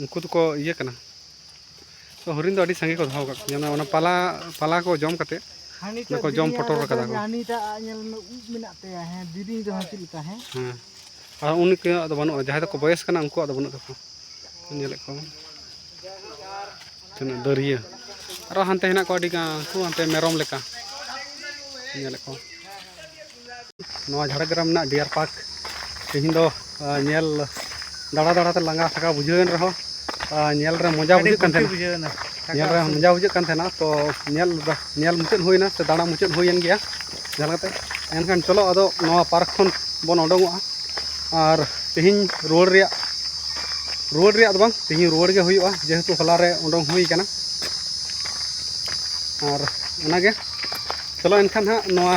Speaker 2: ᱩᱱᱠᱩ ᱫᱚᱠᱚ ᱤᱭᱟᱹ ᱠᱟᱱᱟ ᱛᱚ ᱦᱚᱨᱤᱱ ᱫᱚ ᱟᱹᱰᱤ ᱥᱟᱸᱜᱮ ᱠᱚ ᱫᱚᱦᱚ ᱟᱠᱟᱫ ᱠᱚᱣᱟ ᱚᱱᱟ ᱯᱟᱞᱟ ᱯᱟᱞᱟ ᱠᱚ ᱡᱚᱢ ᱠᱟᱛᱮ ᱚᱱᱟ ᱠᱚ ᱡᱚᱢ ᱯᱚᱴᱚᱨ ᱟᱠᱟᱫᱟ ᱠᱚ ᱦᱟᱹᱱᱤᱴᱟᱜ ᱧᱮᱞ ᱢᱮ
Speaker 1: ᱩᱵ ᱢᱮᱱᱟᱜ ᱛᱟᱭᱟ ᱦᱮᱸ ᱫᱤᱨᱤᱧ ᱫᱚ ᱪᱮᱫ ᱞᱮᱠᱟ ᱦᱮᱸ ᱦᱮᱸ
Speaker 2: ᱟᱨ ᱩᱱᱤ ᱠᱚᱣᱟᱜ ᱫᱚ ᱵᱟᱹᱱᱩᱜᱼᱟ ᱡᱟᱦᱟᱸᱭ ᱫᱚᱠᱚ ᱵᱚᱭᱮᱥ ᱠᱟᱱᱟ ᱩᱱᱠᱩᱣᱟᱜ ᱫᱚ ᱵᱟᱹᱱᱩᱜ ᱛᱟᱠᱚᱣᱟ ᱧᱮᱞᱮᱫ ᱠᱚᱣᱟ ᱛᱤᱱᱟᱹᱜ ᱫᱟᱹᱨᱭᱟᱹ ᱟᱨᱚ ᱦᱟᱱᱛᱮ ᱦᱮᱱᱟᱜ ᱠᱚᱣᱟ ᱟᱹᱰᱤ ᱜᱟᱱ ᱩᱱᱠᱩ ᱦᱟᱱᱛᱮ ᱢᱮᱨᱚᱢ ᱞᱮᱠᱟ ᱧᱮᱞᱮᱫ ᱠᱚᱣᱟ ᱱᱚᱣᱟ ᱡᱷᱟᱲᱜᱨᱟᱢ ᱨᱮᱱᱟᱜ ᱰᱤᱭᱟᱨ ᱯᱟᱨᱠ ᱛᱮᱦᱮᱧ ᱫᱚ ᱧᱮᱞ ᱫᱟᱬᱟ ᱫᱟᱬᱟᱛᱮ ᱞᱟᱸᱜᱟ ᱛᱷᱟᱠᱟ ᱵᱩᱡᱷᱟᱹᱣᱮᱱ ᱨᱮᱦᱚᱸ ᱧᱮᱞ ᱨᱮ ᱢᱚᱡᱟ ᱵᱩᱡᱷᱟᱹᱜ ᱠᱟᱱ ᱛᱟᱦᱮᱱᱟ ᱵᱩᱡᱷᱟᱹᱣᱮᱱᱟ ᱧᱮᱞ ᱨᱮ ᱢᱚᱡᱟ ᱵᱩᱡᱷᱟᱹᱜ ᱠᱟᱱ ᱛᱟᱦᱮᱱᱟ ᱛᱚ ᱧᱮᱞ ᱧᱮᱞ ᱢᱩᱪᱟᱹᱫ ᱦᱩᱭᱱᱟ ᱥᱮ ᱫᱟᱬᱟ ᱢᱩᱪᱟᱹᱫ ᱦᱩᱭᱮᱱ ᱜᱮᱭᱟ ᱡᱟᱦᱟᱸ ᱞᱮᱠᱟᱛᱮ ᱮᱱᱠᱷᱟᱱ ᱪᱚᱞᱚ ᱟᱫᱚ ᱱᱚᱣᱟ ᱯᱟᱨᱠ ᱠᱷᱚᱱ ᱵᱚᱱ ᱚᱰᱚᱝᱚᱜᱼᱟ ᱟᱨ ᱛᱮᱦᱮᱧ ᱨᱩᱣᱟᱹᱲ ᱨᱮᱭᱟᱜ ᱨᱩᱣᱟᱹᱲ ᱨᱮᱭᱟᱜ ᱫᱚ ᱵᱟᱝ ᱛᱮᱦᱮᱧ ᱨᱩᱣᱟᱹᱲ ᱜᱮ ᱦᱩᱭᱩᱜᱼᱟ ᱡᱮᱦᱮᱛᱩ ᱦᱚᱞᱟ ᱨᱮ ᱚᱰᱚᱝ ᱦᱩᱭ ᱠᱟᱱᱟ ᱟᱨ ᱚᱱᱟᱜᱮ ᱪᱚᱞᱚ ᱮᱱᱠᱷᱟᱱ ᱦᱟᱸᱜ ᱱᱚᱣᱟ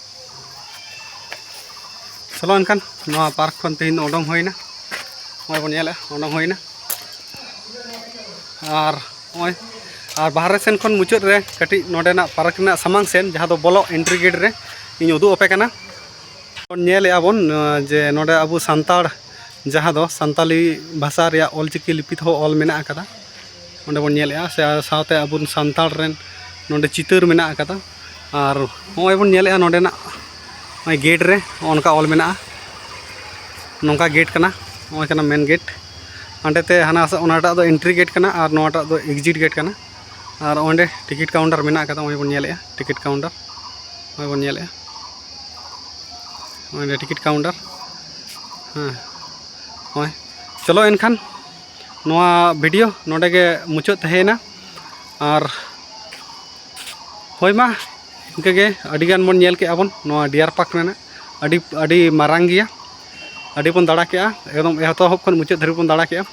Speaker 2: ᱪᱚᱞᱚ ᱮᱱᱠᱷᱟᱱ ᱱᱚᱣᱟ ᱯᱟᱨᱠ ᱠᱷᱚᱱ ᱛᱮᱦᱮᱧ ᱫᱚ ᱩᱰᱩᱝ ᱦᱩᱭᱱᱟ ᱱᱚᱜᱼᱚᱭ ᱵᱚᱱ ᱧᱮᱞᱮᱫ ᱩᱰᱩᱝ ᱦᱩᱭᱱᱟ ᱟᱨ ᱱᱚᱜᱼᱚᱭ ᱟᱨ ᱵᱟᱦᱨᱮ ᱥᱮᱱ ᱠᱷᱚᱱ ᱢᱩᱪᱟᱹᱫ ᱨᱮ ᱠᱟᱹᱴᱤᱡ ᱱᱚᱰᱮᱱᱟᱜ ᱯᱟᱨᱠ ᱨᱮᱱᱟᱜ ᱥᱟᱢᱟᱝ ᱥᱮᱱ ᱡᱟᱦᱟᱸ ᱫᱚ ᱵᱚᱞᱚᱜ ᱮᱱᱴᱨᱤ ᱜᱮᱴ ᱨᱮ ᱤᱧ ᱩᱫᱩᱜ ᱟᱯᱮ ᱠᱟᱱᱟ ᱵᱚᱱ ᱧᱮᱞᱮᱫᱼᱟ ᱵᱚᱱ ᱡᱮ ᱱᱚᱰᱮ ᱟᱵᱚ ᱥᱟᱱᱛᱟᱲ ᱡᱟᱦᱟᱸ ᱫᱚ ᱥᱟᱱᱛᱟᱞᱤ ᱵᱷᱟᱥᱟ ᱨᱮᱭᱟᱜ ᱚᱞᱪᱤᱠᱤ ᱞᱤᱯᱤ ᱛᱮᱦᱚᱸ ᱚᱞ ᱢᱮᱱᱟᱜ ᱟᱠᱟᱫᱟ ᱚᱸᱰᱮ ᱵᱚᱱ ᱧᱮᱞᱮᱫᱼᱟ ᱥᱮ ᱥᱟᱶᱛᱮ ᱟᱵᱚ ᱥᱟᱱᱛᱟᱲ ᱨᱮᱱ ᱱᱚᱰᱮ ᱪᱤᱛᱟᱹᱨ ᱢᱮᱱᱟᱜ ᱟᱠᱟᱫᱟ ᱟᱨ ᱱᱚᱜᱼᱚᱭ ᱵᱚᱱ ᱧᱮᱞᱮᱜᱼᱟ ᱱᱚᱰᱮᱱᱟᱜ ᱱᱚᱜᱼᱚᱭ ᱜᱮᱴ ᱨᱮ ᱚᱱᱠᱟ ᱚᱞ ᱢᱮᱱᱟᱜᱼᱟ ᱱᱚᱝᱠᱟ ᱜᱮᱴ ᱠᱟᱱᱟ ᱱᱚᱜᱼᱚᱭ ᱠᱟᱱᱟ ᱢᱮᱱ ᱜᱮᱴ ᱦᱟᱸᱰᱮᱛᱮ ᱦᱟᱱᱟ ᱚᱱᱟᱴᱟᱜ ᱫᱚ ᱮᱱᱴᱨᱤ ᱜᱮᱴ ᱠᱟᱱᱟ ᱟᱨ ᱱᱚᱣᱟᱴᱟᱜ ᱫᱚ ᱮᱠᱡᱤᱴ ᱜᱮᱴ ᱠᱟᱱᱟ ᱟᱨ ᱚᱸᱰᱮ ᱴᱤᱠᱤᱴ ᱠᱟᱣᱩᱱᱴᱟᱨ ᱢᱮᱱᱟᱜ ᱠᱟᱫᱟ ᱱᱚᱜᱼᱚᱭ ᱵᱚᱱ ᱧᱮᱞᱮᱜᱼᱟ ᱴᱤᱠᱤᱴ ᱠᱟᱣᱩᱱᱴᱟᱨ ᱱᱚᱜᱼᱚᱭ ᱵᱚᱱ ᱧᱮᱞᱮᱜᱼᱟ ᱚᱸᱰᱮ ᱴᱤᱠᱤᱴ ᱠᱟᱣᱩᱱᱴᱟᱨ ᱦᱮᱸ ᱱᱚᱜᱼᱚᱭ ᱪᱚᱞᱚ ᱮᱱᱠᱷᱟᱱ ᱱᱚᱣᱟ ᱵᱷᱤᱰᱤᱭᱳ ᱱᱚᱰᱮ ᱜᱮ ᱢᱩᱪᱟᱹᱫ ᱛᱟᱦᱮᱸᱭᱮᱱᱟ ᱟᱨ ᱦᱳᱭ ᱢᱟ ᱤᱱᱠᱟᱹ ᱜᱮ ᱟᱹᱰᱤ ᱜᱟᱱ ᱵᱚᱱ ᱧᱮᱞ ᱠᱮᱜᱼᱟ ᱵᱚᱱ ᱱᱚᱣᱟ ᱰᱤᱭᱟᱨ ᱯᱟᱨᱠ ᱨᱮᱱᱟᱜ ᱟᱹᱰᱤ ᱟᱹᱰᱤ ᱢᱟᱨᱟᱝ ᱜᱮᱭᱟ ᱟᱹᱰᱤ ᱵᱚᱱ ᱫᱟᱬᱟ ᱠᱮᱜᱼᱟ ᱮᱠᱫᱚᱢ ᱮᱛᱚᱦᱚᱵ ᱠᱷᱚᱱ ᱢᱩᱪᱟᱹᱫ ᱫᱷᱟᱹᱨᱤᱡ ᱵᱚᱱ ᱫᱟᱬᱟ ᱠᱮᱜᱼᱟ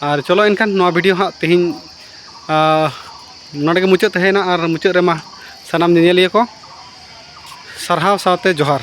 Speaker 2: ᱟᱨ ᱪᱚᱞᱚ ᱮᱱᱠᱷᱟᱱ ᱱᱚᱣᱟ ᱵᱷᱤᱰᱤᱭᱳ ᱦᱟᱸᱜ ᱛᱮᱦᱮᱧ ᱱᱚᱰᱮ ᱜᱮ ᱢᱩᱪᱟᱹᱫ ᱛᱟᱦᱮᱸᱭᱮᱱᱟ ᱟᱨ ᱢᱩᱪᱟᱹᱫ ᱨᱮᱢᱟ ᱥᱟᱱᱟᱢ ᱧᱮᱧᱮᱞᱤᱭᱟᱹ ᱠᱚ ᱥᱟᱨᱦᱟᱣ ᱥᱟᱶᱛᱮ ᱡᱚᱦᱟᱨ